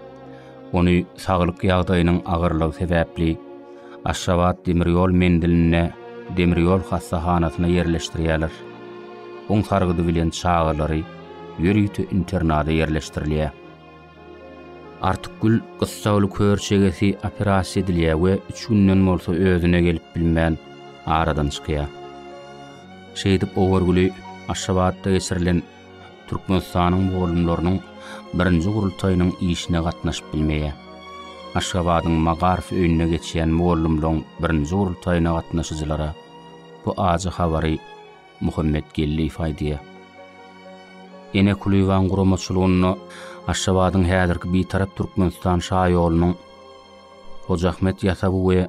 Ony saglyk ýagdaýynyň agyrlygy sebäpli Aşgabat demir ýol menzilinde demir ýol hassahanasyna ýerleşdirýärler. Un sargydy bilen çagalary ýörite internada ýerleşdirilýär. Artykgül gyssagly kör çegesi operasiýa edilýär we üç günden bolsa özüne gelip bilmän aradan çykýar. Şeýdip Owurgüli Aşgabatda geçirilen Türkmenistanyň mugallymlarynyň birinji gurultaýynyň işine gatnaşyp bilmeýär. Aşgabadyň Magaryf öýünde geçýän mugallymlaryň birinji gurultaýyna gatnaşyjylara bu ajy habary Muhammet Geldiýew aýdýar. Ene Kulyýewanyň guramaçylygynda Aşgabadyň häzirki Bitarap Türkmenistan şaýolunyň Hojaahmet ýasawy we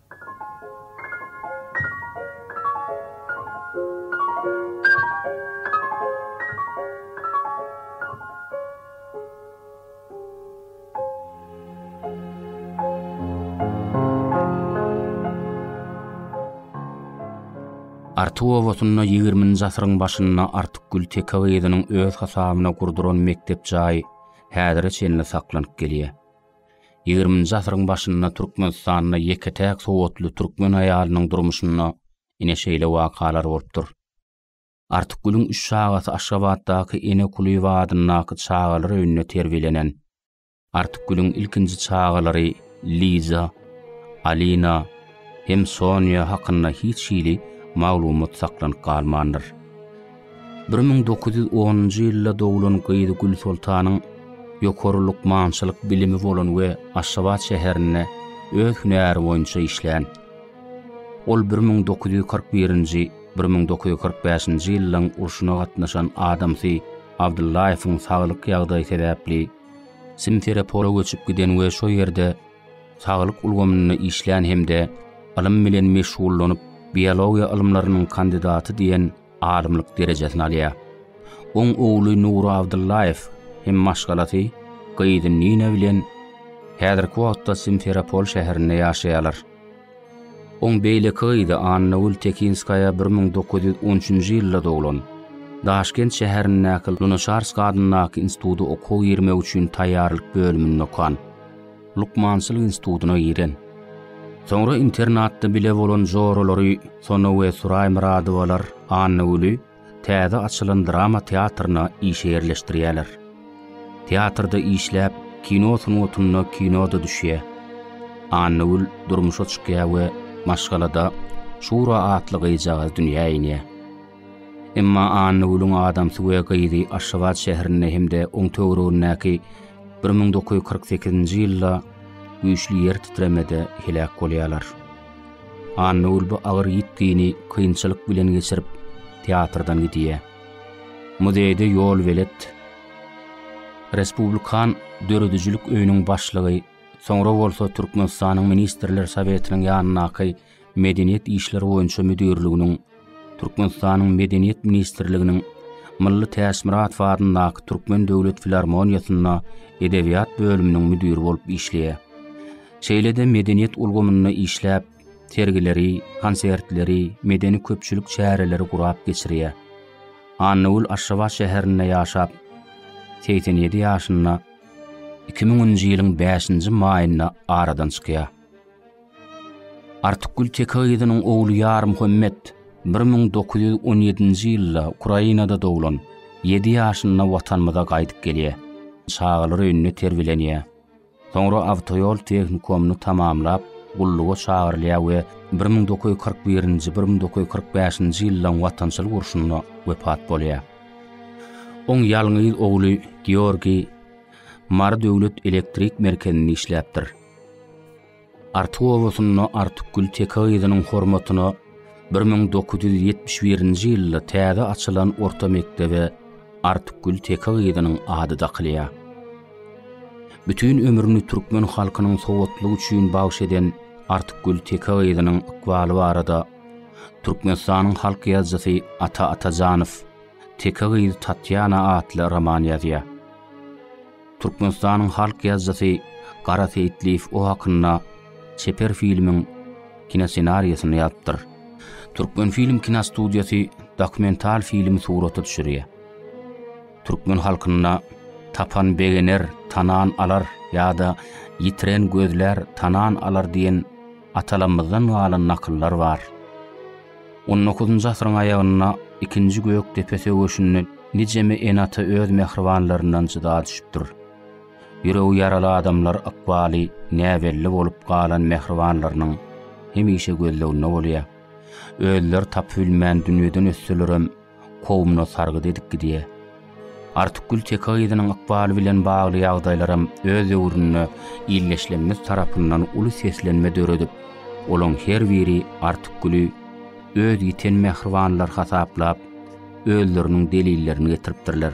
Artuw obasynda ýigirminji asyryň başynda Artykgül teke gyzynyň öz hasabyna gurduran mekdep jaýy häzire çenli saklanyp gelýär. Ýigriminji asyryň başynda Türkmenistanda ýeke-täk sowatly türkmen aýalynyň durmuşynda ine şeýle wakalar bolupdyr. Artykgülüň üç çagasy Aşgabatdaky Ene Kulyýewa adyndaky çagalar öýünde terbiýelenen. Artykgülüň ilkinji çagalary Liza, Alina, hem Sonýa hakynda hiç hili maglumat saklanyp galmandyr. Bir müň dokuz ýüz onunjy ýylda doglan gyzy Gülsoltanyň ýokary lukmançylyk bilimi bolan we Aşgabat şäherinde öz hünäri boýunça işlän. Ol bir müň dokuz ýüz kyrk birinji, bir müň dokuz ýüz kyrk bäşinji ýyllaryň urşuna gatnaşan adamsy Abdyllaýewiň saglyk ýagdaýy sebäpli Simferepola göçüp giden we şo ýerde saglyk ulgamynda işlän hem-de ylym bilen meşgullanyp, biologiýa ylymlarynyň kandidaty diýen alymlyk derejesini alýar. Oň ogly Nury Abdyllaýew hem maşgalasy, gyzy Nina bilen häzirki wagtda Simferopol şäherinde ýaşaýarlar. Oň beýleki gyzy Annagül Tekinskaýa bir müň dokuz ýüz on üçünji ýylda doglan. Daşkent şäherindäki Lunaçarsk adyndaky instituda okuwa girmek üçin taýýarlyk bölüminde okan. Lukmançylyk institutyna giren. Soňra internatda bile bolan joralary Sona we Suraý Myradowalar Annagüli täze açylan drama teatryna işe ýerleşdirýärler. Teatrda işläp, kino sungatynda kino-da düşýär. Annagül durmuşa çykýar we maşgalada Şura atly gyzjagaz dünýä inýär. Emma Annagülüň adamsy we gyzy Aşgabat şäherinde hem-de oň töweregindäki bir müň dokuz ýüz kyrk sekizinji ýylda güýçli ýer titremede heläk bolýarlar. Annagül bu agyr ýitgini kynçylyk bilen geçirip, teatrdan gidýär. Muzeýde ýolbelet, Respublikan döredijilik öýüniň başlygy, soňra bolsa Türkmenistanyň Ministrler Sowetiniň ýanyndaky Medeniýet işleri boýunça müdirliginiň Türkmenistanyň Medeniýet ministrliginiň Mylly Täçmyradow adyndaky Türkmen döwlet filarmoniýasynda edebiýat bölüminiň müdiri bolup işleýär. Şeýle-de medeniýet ulgamynda işläp, sergileri, konsertleri, medeni-köpçülik çäreleri gurap geçirýär. Annagül Aşgabat şäherinde ýaşap, 87 ýaşynda 2000-nji ýylyň 5-nji maýynda aradan çykýar. Artykgül Teke gyzynyň ogly Ýarmuhammet bir müň dokuz ýüz on ýedinji ýylda Ukrainada doglan, ýedi ýaşynda Watanymyza gaýdyp gelýär. Çagalar öýünde terbiýelenýär. Soňra awtoýol tehnikumyny tamamlap, gulluga çagyrylýar we bir müň dokuz ýüz kyrk birinji, bir müň dokuz ýüz kyrk bäşinji ýyllaryň Watançylyk urşunda wepat bolýar. Oň ýalňyz ogly Georgiý Mary döwlet elektrik merkezinde işläpdir. Artyk obasynda Artykgül teke gyzynyň hormatyna bir müň dokuz ýüz ýetmiş birinji ýylda täze açylan orta mekdebe Artykgül teke gyzynyň ady dakylýar. Bütin ömrüni türkmen halkynyň sowatlygy üçin bagyş eden Artykgül teke gyzynyň ykbaly barada Türkmenistanyň halk ýazyjysy Ata Atajanow Teke gyz Tatýana atly roman ýazýar. Türkmenistanyň halk ýazyjysy Gara Seýitliýew o hakynda çeper filmiň kinossenariýasyny ýazypdyr. Türkmenfilm kinostudiýasy dokumental filmi surata düşürýär. Türkmen halkynda Tapan begener, tanan alar ýa-da Ýitiren gözlär, tanan alar diýen atalarymyzdan galan nakyllar bar. On dokuzynjy asyryň aýagynda ikinji Gökdepe söweşinde nijeme ene-ata öz mähribanlaryndan jyda düşüpdir. Ýüregi ýaraly adamlar ykbaly näbelli bolup galan mähribanlarynyň hemişe gözleginde bolýar. Özleri tapybilmän dünýeden ötselerem, kowumyna sargyt edip gidýär. Artykgül teke gyzynyň ykbaly bilen bagly ýagdaýlaram öz döwründe ildeşlerimiz tarapyndan uly seslenme döredip, olaň her biri Artykgüli öz ýiten mähribanlary hasaplap, özleriniň delillerini getiripdirler.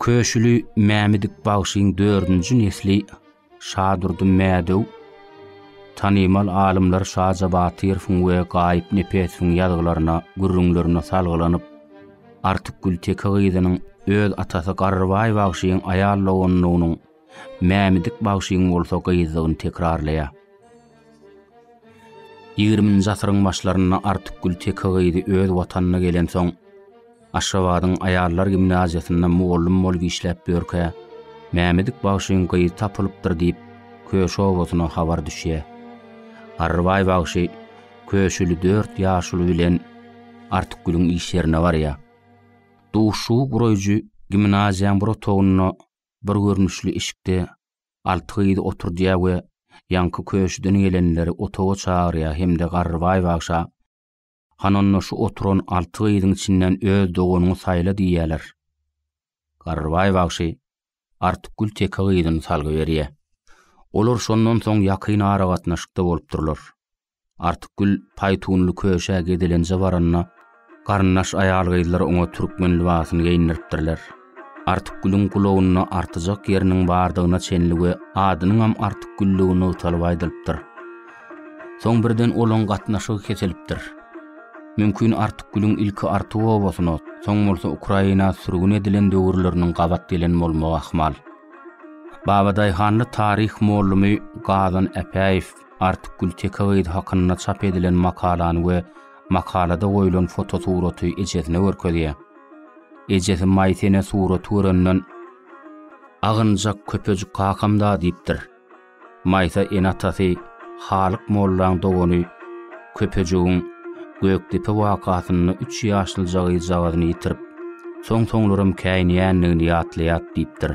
Köşüli Mämmedik bagşyň dördünji nesli Şadurdy Mädew tanymal alymlar Şaja Batyrowyň we Gaýyp Nepesowyň ýazgylaryna, gürrüňlerine salgylanyp, Artykgül Teke gyzynyň öz atasy Garrybaý bagşyň aýal doganlygynyň Mämmedik bagşyň bolsa gyzdygyny tekrarlaýar. Ýigriminji asyryň başlarynda Artykgül teke gyzy öz watanyna gelensoň, Aşgabadyň aýallar gimnaziýasynda mugallym bolup işläp ýörkä, Mämmedik bagşyň gyzy tapylypdyr diýip, Köşi obasyna habar düşýär. Garrybaý bagşy Köşüli dört ýaşuly bilen Artykgülüň iş ýerine barýar. Duşuşygy guraýjy gimnaziýaň bir otagynda Bir görnüşli işikde alty gyz oturdýar we ýaňky köşüden gelenleri otaga çagyrýar hem-de Garrybaý bagşa, Han onda şu oturan alty gyzyň içinden öz doganyňy saýla diýýärler. Garrybaý bagşy Artykgül teke gyzyny salgy berýär. Olar şondan soň ýakyn aragatnaşykda bolupdyrlar. Artykgül paýtunly köşä gezelenje baranda, garyndaş aýal-gyzlar oňa türkmen lybasyny geýindiripdirler. Artykgülüň gulagynda artyjak ýeriniň bardygyna çenli we adynyňam Artykgülligi nygtalyp aýdylypdyr. Soň birden olaň gatnaşygy kesilipdir. Mümkin Artykgülüň ilki Artyk obasyna, soň bolsa Ukraina sürgün edilen döwürleriniň gabat gelen bolmagy ahmal. Babadaýhanly taryh mollumy Gazan Äpäýew Artykgül teke gyz hakynda çap edilen makalany we makalada goýlan fotosuraty ejesine görkezýär. Ejesi Maýsa ene suraty görenden, Agynjak köpejik kakam-da diýipdir. Maýsa ene atasy Halyk mollaň dogany Köpejigiň Gökdepe wakasynda üç ýaşlyja gyzjagazyny ýitirip, soň-soňlaram käýinýändigini ýatlaýar diýipdir.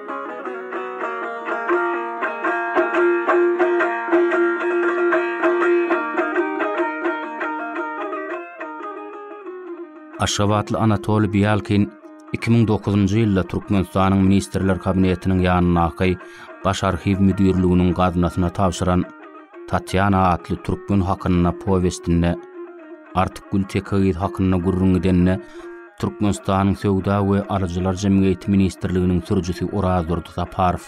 Aşgabatly Anatoly Bialkin 2009-njy ýylda Türkmenistanyň Ministrler Kabinetiniň ýanyndaky Baş arhiw müdirliginiň gaznasyna tabşyran Tatýana atly türkmen hakynda powestinde Artykgül Tekegiz hakynda gürrüň edende Türkmenistanyň Söwda we alyjylar jemgyýeti ministrliginiň sürüjisi Orazdurdy Saparow,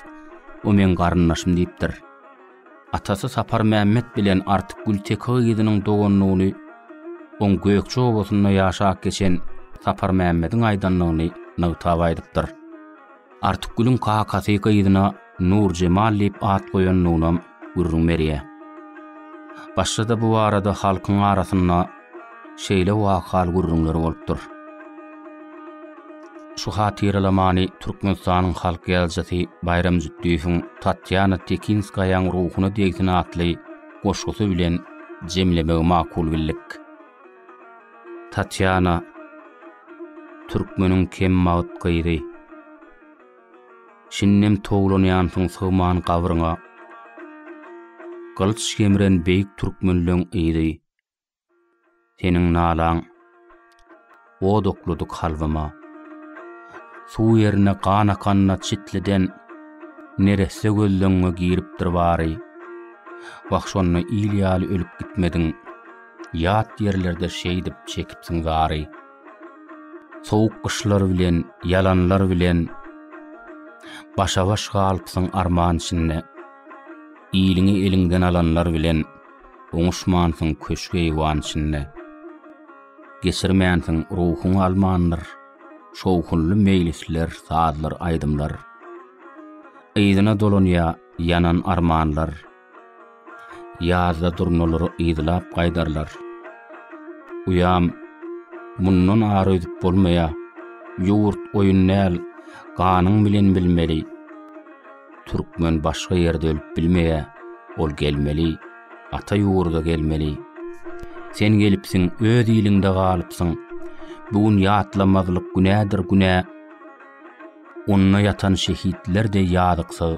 O meň garyndaşym diýipdir. Atasy Saparmämmet bilen Artyk Gülteke gyzynyň doganlygyny oň Gökje obasynda ýaşap geçen Saparmämmediň aýdandygyny nygtap aýdypdyr. Artykgülüň kakasy gyzyna Nurjemal diýip at goýandygyna gürrüň berýär. Başda-da bu barada halkyň arasynda şeýle wahal gürrüňler bolupdyr. Şu hatyralamany Türkmenistanyň halk ýazyjysy Baýram Jütdiýewiň Tatýana Tekinskaýaň ruhuna degsin atly goşgusy bilen jemlemegi makul bildik. Tatýana, türkmeniň kembagyt gyzy. Şindem towlanýansyň sygman gabryňa. Gylyç gemren beýik türkmenleň yzy. Seniň nalaň od oklady kalbyma. Suw ýerine gan akanda çitliden neresse gözleňňe giripdir bary. Wah şonda il ýaly ölüp gitmediň. Ýat ýerlerde şeýdip çekipsiň zary. Sowuk gyşlar bilen, ýalanlar bilen Başa-baş galypsyň arman içinde. Iliňi eliňden alanlar bilen Oňuşmansyň köşk-eýwan içinde. Geçirmänsiň, ruhuň almandyr Şowhunly meýlisler, sazlar, aýdymlar. Yzyna dolanýar ýanan armanlar. Ýazda durnalary yzlap gaýdarlar. Uýam, Mundan ar öýdüp bolmaýa. Ýurt oýun däl, ganyň bilen bilmeli. Türkmen başga ýerde ölüp bilmeýä, ol gelmeli, ata ýurda gelmeli. Sen gelipsiň, öz iliňde galypsyň. Bu gün ýatlamazlyk günädir günä. Onda ýatan şehitler-de ýazyksyz.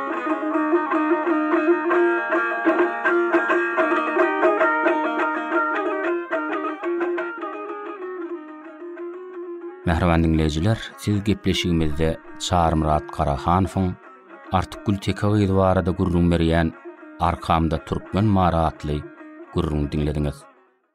Mähriban diňleýjiler, siz gepleşigimizde Çarmyrat Karahanowyň Artykgül Teke gyzy barada gürrüň berýän Arkamda türkmen mary atly gürrüňi diňlediňiz.